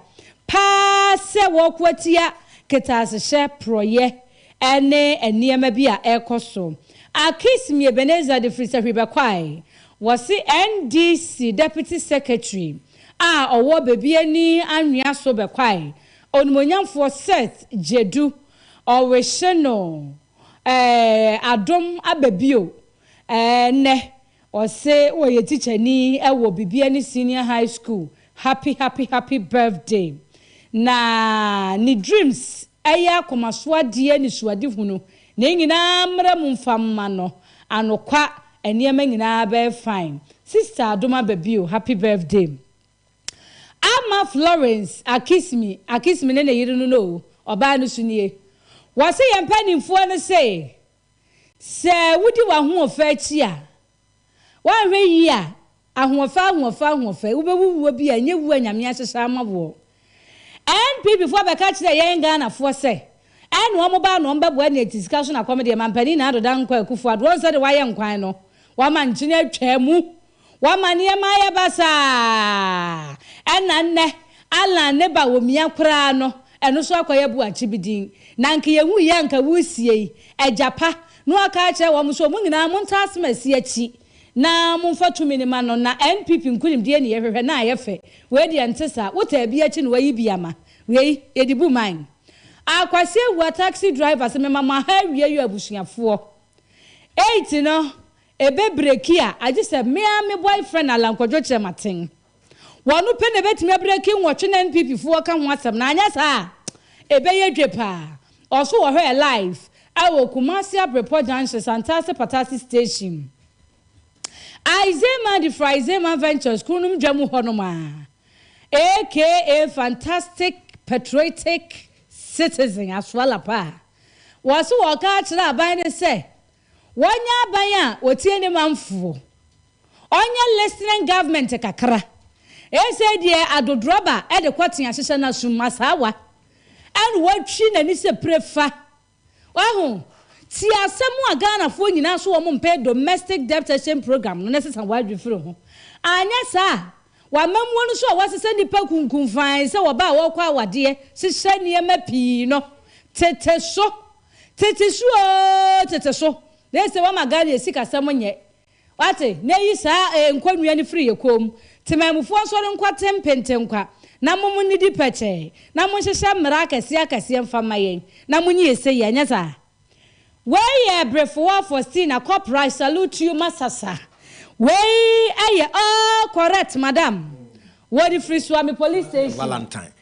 paa sɛ wɔreko atia kɛtɛasehyɛ, porɔeɛ ne nneɛma bi a ɛrekɔ so. Akismie Ebenezer de firi Sahwi bɛkɔae. Wɔse NDC Deputy Secretary a ɔwɔ Bebiani Anwea so bɛkɔae. Onimonyamfoɔ Seth Jedu, ɔrehye no eh, adom aba bio eh, nnɛ. Ɔse ɔyɛ tikyani wɔ Bebiani Senior High School. Happy happy happy birthday. Na ne dreams Ɛyɛ akoma so adeɛ anisoadehunu, ne nyinaa mmra mu mfa mma no, anokwa nneɛma nyinaa bɛyɛ fine, sister adom aba bio happy birthday Ama Florence Akismi Akismi ne ne yere no no o, ɔbaa no so nie Wɔse yɛn mpaninfoɔ no se, sɛ wodi w'ahoɔfɛ akyi a, Woanhwɛ yie a, ahoɔfɛ ahoɔfɛ ahoɔfɛ, wobɛwu wuo bi a ɛnyɛ wuo a Nyame ahyehyɛ ama woɔ. NPP foɔ bɛka kyerɛɛ yɛn Ghana foɔ sɛ, ɛna wɔn baa na wɔn bɛboa nea ɛte sika so na kɔm deɛ Mampanin Nana Addo Dankwa Akuffo Addo wɔn sɛdeɛ wayɛ nkwan no, wama nkyene atwaa mu, wama nneɛma ayɛ basaa, ɛna nnɛ Allan ne ba wɔ mia koraa no, Ɛno so akɔyɛ boakye bi din. Na anka yɛnhu yɛ anka woresiei. Agya pa no aka akyerɛ wɔn sɛ wɔn nyinaa montaa asɛmasi akyi na momfa tumi no ma no. Na NPP nkunimdie ne yɛhwehwɛ na ayɛ fɛ. Wei deɛ nte saa. Wotaa bi akyi na wayi bi ama. Wei yɛde bu man. Ah Kwasi Awuah taxi driver se mema mo aha awie yo abusuafoɔ. Eight no ɛbɛ breki a agyesɛ me ara me boyfriend Alan Kwadwo Kyerematen. Wɔno pɛ na ɛbɛtumi abreaki nwɔtwe na NPP foɔ ka ho asɛm no anyɛ saa a ɛbɛyɛ dwe paa. Ɔso wɔ hɔ ɛ live ɛwɔ Kumasi Abrepɔ junction Santase Patase station Aizeman de firi Aizeman Ventures kununom dwa mu hɔ nom aa aka fantastic patriotic citizen asoala paa. Wɔse wɔka akyerɛ aban no sɛ Wɔnyɛ aban a wɔtie ne manfoɔ. Ɔnyɛ listening government kakra. Ɛsei deɛ adodorɔba de kɔte ahyehyɛ no asom asaawa ɛna watwi n'ani sɛ pire fa. Waho? Tie asɛm a Ghanafoɔ nyinaa so wɔn mpɛ domestic debt cession program no na sesa w'adwene firi ho. Anyɛ saa a w'amammuo no so a wɔasesa nnipa kunkum fann sɛ wɔbaa a wɔrekɔ awadeɛ hyehyɛ nneɛma pii no tete so. Tete so oo tete so na ese wama Ghana yɛ sikasɛm nyɛ wate na eyi saa ee nkɔnnua no firi yɛ kɔn mu Temanmufoɔ nsɔre nkɔ ten pentenkwa na mom nnidi pɛkyɛɛ na monhyehyɛ mmara akɛseɛ akɛseɛ mfa mma yɛn na monye yɛ sei anyɛ saa Wei yɛ Breffoɔ Faustina Corporal I salute you masasa Wei yɛ all correct madam Wɔde firi Suame Police Station. Valentine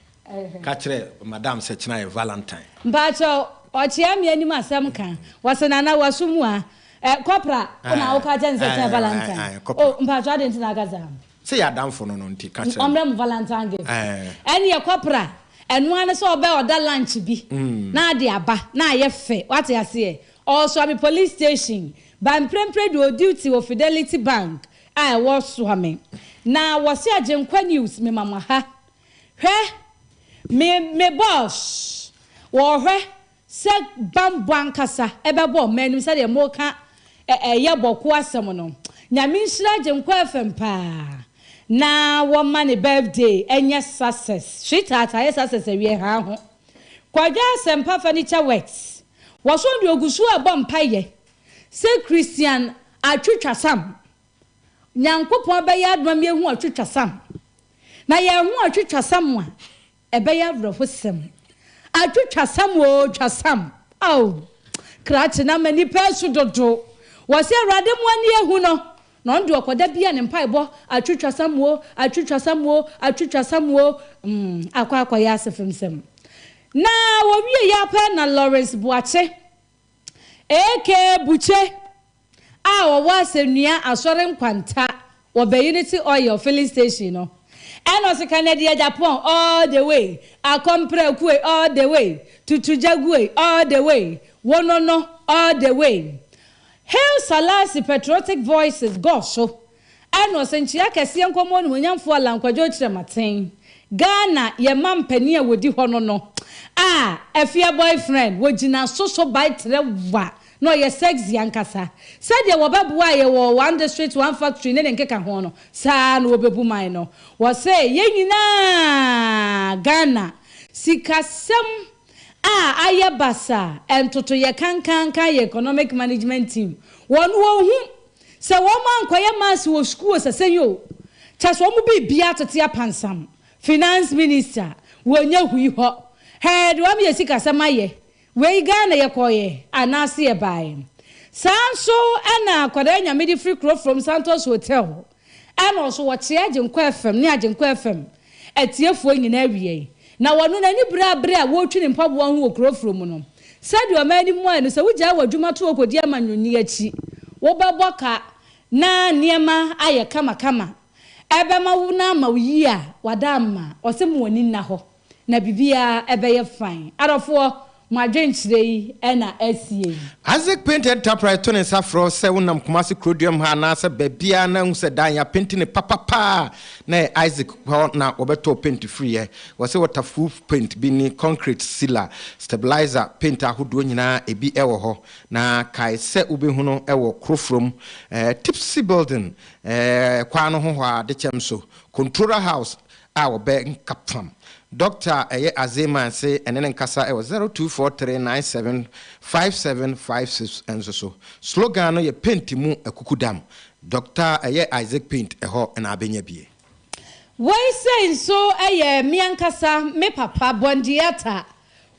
Ka kyerɛ madam sɛ kyena yɛ valentine. Mpaakyɛw ɔkyea me anim asɛm ka wɔse nana waso mu a eh kɔpra wo na woka kyɛ no sɛ kyena yɛ valentine oh mpaakyɛw adɛn nti na aka saa. Sɛ yɛ adamfo no no nti ka kyerɛ no. Ɔmrɛ mo valentine gift ɛneɛ kɔpra ɛno ara ne sɛ ɔbɛ order lunch bi na ade aba na ayɛ fɛ wate aseɛ ɔɔsoa me police station by mprɛmprɛ de ɔɔ duty wɔ fidelity bank a ɛwɔ soame na wɔse agyenkwa news mema mo ha Hwɛ, me me boss, wɔrehwɛ sɛ bammɔ ankasa bɛbɔ wɔn anom sɛdeɛ moreka ɛ ɛyɛ bɔko asɛm no. Nyame nhyira Agyenkwa FM paa na wɔmma ne birthday nyɛ success. Sweetheart ayɛ success awie haa ho. Kwadwo Asɛmpa Furniture Works, wɔso deɛ ɔgu so rebɔ mpaeɛ sɛ Christian Atwitwasam, Nyankopɔn bɛyɛ adom ama yɛahu Ɔtwitwasam. na yɛn ho atwitwasam a, ɛbɛyɛ awerɛhosɛm. Atwitwasam oo, twasam! Ao, krakye no ama nnipa asu dodo. Wɔse Awurade mo ani ahu no, na ɔno deɛ ɔkɔda biara ne mpaebɔ, atwitwasam oo, atwitwasam oo, atwitwasam oo. Mm, akɔ akɔyɛ asefemsɛm. Na wɔwiei ara pɛ na Lawrence Boakye, AK Bukye a ɔwɔ Asɛnnua Asɔre Nkwanta wɔ Bayiniti Oil Filling Station no na ɔse Kanadi Agyapong all the way, Akɔmprɛkue all the way, Tutu Gyaguei all the way, Wonono all the way. Hail Salasi Patriotic Voices, Go so! Ɛno so nkyea kɛseɛ nkɔm onimuonyamfoɔ Allan Kwadwo Kyerematen, Ghana yɛn ma mpanin a wɔdi hɔ no no a Afia boyfriend wɔ gyina so so bae trɛ wa na ɔyɛ sexy ankasa. Sɛdeɛ wɔbɛboaa yɛn wɔ One District One Factory ne ne nkeka ho no saa ara na wɔbɛbu man no. Wɔse yɛn nyinaa Ghana sikasɛm a ayɛ basaa, ntotoyɛ kankankan yɛ economic management team wɔn wɔn hu Sɛ wɔn ankɔyɛ mass wɔ sukuu o sɛsɛn o kyɛ sɛ wɔn biribiara tete apansam finance minister wɔ nyahui hɔ hɛɛ de wɔn yɛ sikasɛm ayɛ wei Ghana yɛkɔɔyɛ anaase yɛbaaɛ saa nso ɛna akwadaa nyame de firi kuro from Santos hotel ɛna ɔso wɔkyeɛ Agyenkwa FM ne Agyenkwa FM Atiefoɔ nyinaa wiei, na wɔno no ani berɛ a berɛ a wɔretwi ne mpaboa ho wɔ kuro foro mu no. Sɛdeɛ ɔman no mmuaeɛ no, sɛ wogyae w'adwuma to hɔ kɔdi amanyɔni akyi, wobɛbɔ ka na nneɛma ayɛ kamakama, ɛbɛma wo na ama wo yie a, w'adamma, ɔse mo ani nna hɔ na biribiara bɛyɛ fine. Adɔfoɔ, Mo adwenkyerɛ yi na asie yi. Isaac Paint Enterprise to ne nsa frɛ wo sɛ wonam Kumasi Kuroduam ha anaasɛ baabiara na ahu sɛ dan yɛapenti no papapa a, na ɛyɛ Isaac hɔ na wɔbɛtɔɔ penti firiiɛ. Wɔse waterproof paint bi ne concrete sealer, stabilizer, paint ahodoɔ nyinaa ebi wɔ hɔ. Na kae sɛ wobɛhu no wɔ Kurofrom, Tipsy Building, kwan no ho hɔ ara, Dekyɛm so, Controller House, a wɔbɛnka fam. Dɔkta a ɛyɛ Alzheimer's se ɛne no nkasa wɔ zero two four three nine seven five seven five six nso so. Slogan no yɛ Paint mu akukudam. Dɔkta a ɛyɛ Isaac Paint ɛhɔ na abɛnya bi. Wei sei nso yɛ me ankasa me papa, Bɔndiata.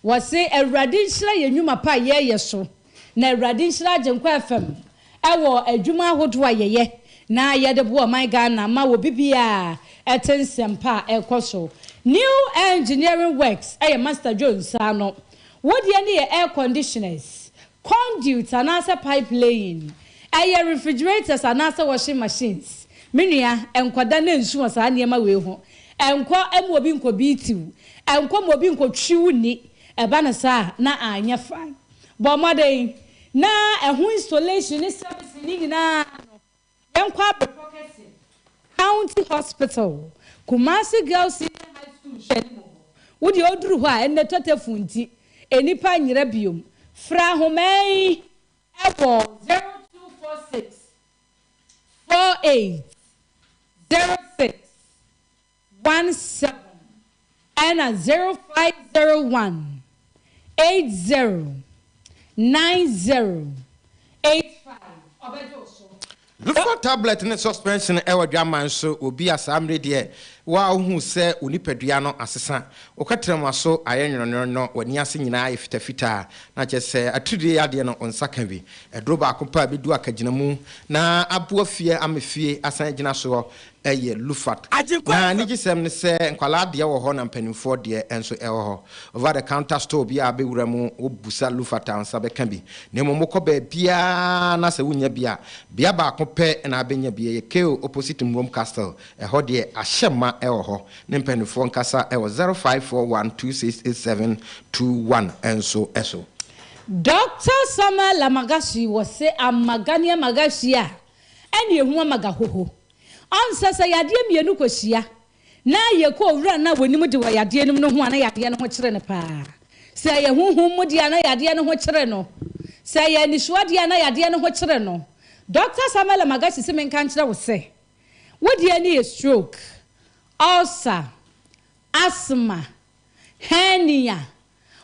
Wɔse Awurade nhyira yɛn nnwuma pa a yɛreyɛ so. Na Awurade nhyira Agyenkwa FM wɔ adwuma ahodoɔ a yɛyɛ na yɛde boa ɔman Ghana ma wɔ bibiaa te nsɛmpa a ɛkɔ so. New Engineering Works yɛ Master Joe nsa ano. Wo deɛ ne yɛ air conditioners, conduits anaasɛ pipe laying, ɛyɛ refrigerators anaasɛ washing machines. Me nua, nkɔda na nsu wɔ saa nneɛma wei ho. Nkɔ ma obi nkɔ beat wo. Nkɔ ma obi nkɔ twi wo ni. Ɛba no saa a, na anyɛ fine. Bɔ mmɔden na ɛho installation ne servicing no nyinaa no yɛnkɔ abrepɔ kɛse, County Hospital, Kumasi Girls Senior High School hwɛ no mu hɔ. Wo deɛ woduru hɔ a, ɛnnɛ tɔtɛfuu nti, nnipa nyera bio. Frɛ ahoma yi wɔ 0246 48 06 one seven ɛna zero five zero one eight zero nine zero eight five ɔbɛgye wo so. Lufon tablet ne suspension wɔ dwaman so wɔ bi a saa mmere deɛ wo a wohu sɛ wo nipadua no asesa, wo kɛtrɛma so ayɛ nwononwono, w'ani ase nyinaa ayɛ fitafitaa na kyerɛ sɛ atiridie yadeɛ no wo nsa ka bi. Aduro baako pɛ a ɛbɛdu akagyinamu na aboa fie ama fie asan agyina soɔ yɛ Lufat. Na anigyesɛm ne sɛ nkwadaa deɛ wɔ hɔ na mpanimfoɔ deɛ nso wɔ hɔ. Over the counter store biara a wobɛwura mu, wobisa Lufat a wo nsa bɛka bi. Na mmom wokɔ baabiara na sɛ wonnya bi a, bea baako pɛ na wobɛnya bi, ɛyɛ Kale opposite Mmwom Castle. Ɛhɔ deɛ ahyɛ ma wɔ hɔ. Ne mpanimfoɔ nkasa wɔ zero five four one two six eight seven two one nso so. Doctor Samuel Lamagasui wɔ se ama Ghanaian Magasui a Ɛne ehu ama gahoho. Ɔnsɛ sɛ yadeɛ mmienu kɔhyia na yɛkɔ owura no a wɔnim de wɔ yadeɛ no mu no ho a na yadeɛ no ho kyere no pa ara. Sɛ ɛyɛ honhom mu deɛ a na yadeɛ no ho kyere no. Sɛ ɛyɛ anisoɔ deɛ a na yadeɛ no ho kyere no. Dɔkta Samuella Magashi se menka nkyerɛ wo sɛ wo deɛ no yɛ stroke, ulcer, asthma, hernia,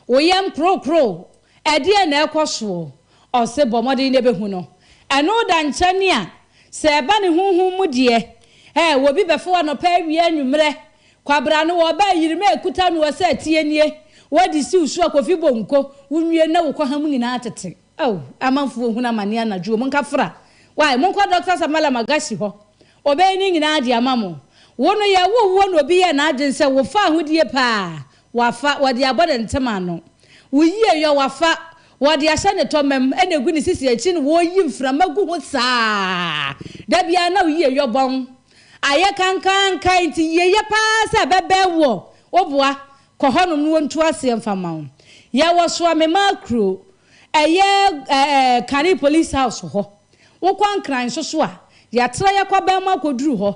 Wo yam krokro, ɛdeɛn na ɛrekɔ soɔ? Ɔse, Bɔ mmɔden na bɛhu no. Ɛno da nkyɛn a, sɛ ɛba ne honhom mu deɛ, eh, obi bɛfo anɔpa awia anwummerɛ, kwabra no ɔba a yirima ɛkuta noɔ sɛ ateɛ nie, wode si wo so a kofi bonko, wo nwie na wo kɔha mu nyinaa tete. Oh, amanfoɔ hunu amaneɛ anadwo o, monka fra. Wai, monkɔ Doctor Samala Magasi hɔ, ɔbɛyɛ ne nyinaa de ama mo. Wo no yɛwoo woɔ na obi yɛɛ n'adwene sɛ wofaa ho die paa, Wafa, wɔde abɔ ne ntem ano. Wo yie yɔ, wafa, wɔde ahyɛ ne tɔmam na egu ne sisi akyi na wɔreyi mframa gu ho saa. Da biara na wo yie yɔ bɔn. Ayɛ kankanka nti yieyɛ paa sɛ ɛbɛbɛn woɔ. Wo boa, kɔ hɔnom na wɔntu aseɛ mfa ma wo. Yɛwɔ Soamema kuro, ɛyɛ ɛɛ Kane Police House hɔ. Wokɔ Nkran nso so a, yɛatra yɛkɔ bɛn mu akɔduru hɔ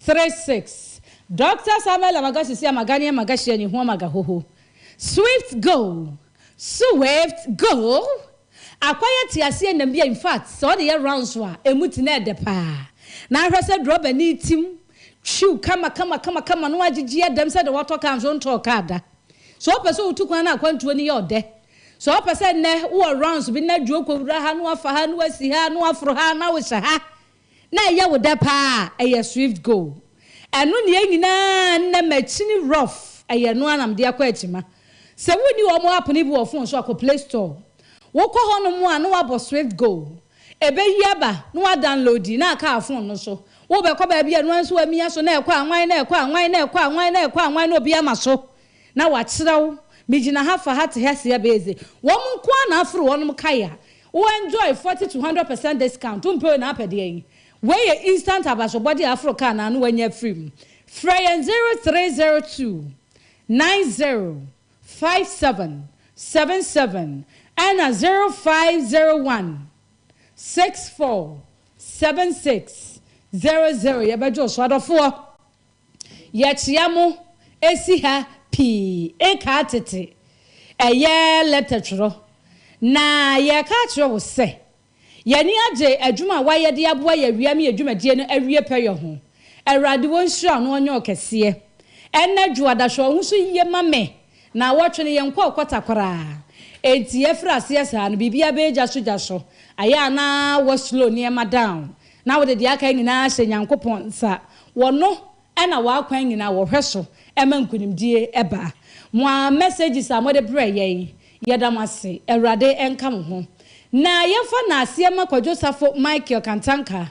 Three six, Dɔkta Samuel Amagahye si Amagani Amagahye anyi ho Amagahoho, Swift go, Suweift go, Akwayɛ teaseɛnam bi a in fact sɛ ɔde yɛ rounds a ɛmu ti na ɛdɛ paa na ahwɛ sɛ drɔbani tim twiw kama kama kama kama na wagyegye ɛdɛm sɛ deɛ wɔtɔ kaa nso ntɔɔ kaa da. Sɛ wopɛ sɛ wotu kwan na akwantuo no yɛ ɔdɛ, sɛ wopɛ sɛ nnɛ wowɔ rounds bi na adwo kɔwura ha na wafa ha na wasi ha na waforo ha na wohyɛ ha, Na ɛyɛ wo dɛ paa a, ɛyɛ Swift Go. Ɛno ne yɛn nyinaa nnɛ makyini rough, ɛyɛ ɛno ara na mede akɔ akyima. Sɛ wonni wɔn app no bi wɔ phone so a, kɔ Play Store. Wokɔ hɔnom a na woabɔ Swift Go. Ɛbɛyi aba na woadownloadi na aka phone no so. Wobɛkɔ baabi a ɛno ara nso woamia so na ɛkɔ anwann na ɛkɔ anwann na ɛkɔ anwann na ɛkɔ anwann na obi ama so. Na wɔakyerɛw, Migyina ha fa ha te ha si ha bɛyɛ dze. Wɔn nko ara na aforo wɔnom kae a wo enjoy forty to hundred percent discount, wompɛ wei na apɛ deɛn yi? Wei yɛ instant abasobɔde a aforo kaa na ano wanya afiri mu. Frɛ yɛn zero three zero two nine zero five seven seven seven ɛna zero five zero one six four seven six zero zero yɛbɛgye wo so adɔfoɔ. Yɛkyea mo esi ha pii nkaa tete ɛyɛ lɛtɛ twerɛ na yɛreka akyerɛ wo sɛ yɛani agye adwuma a woayɛ de aboa yɛ awia me yɛ dwumadie no awie pɛyɛ ho. Awurade ɔnhyira wo na ɔnyɛ wo kɛseɛ. Ɛnnɛ dwoada hwɛ wo ho so yie ma me na awɔtwe no yɛnkɔ ɔkwata koraa enti yɛfiri aseɛ saa no biribiara bɛyɛ gyaso gyaso ayɛ a na wɔ slow nneɛma down Na wode deɛ aka nyinaa hyɛ Nyankopɔn nsa, wɔ No na w'akwan nyinaa wɔhwɛ so ma nkunimdie ba. Moa messages a mode brɛ yɛn, yɛda mo ase. Awurade nka mo ho. Na yɛmfa naaseɛ ma Kwadwo Safo Michael Kantanka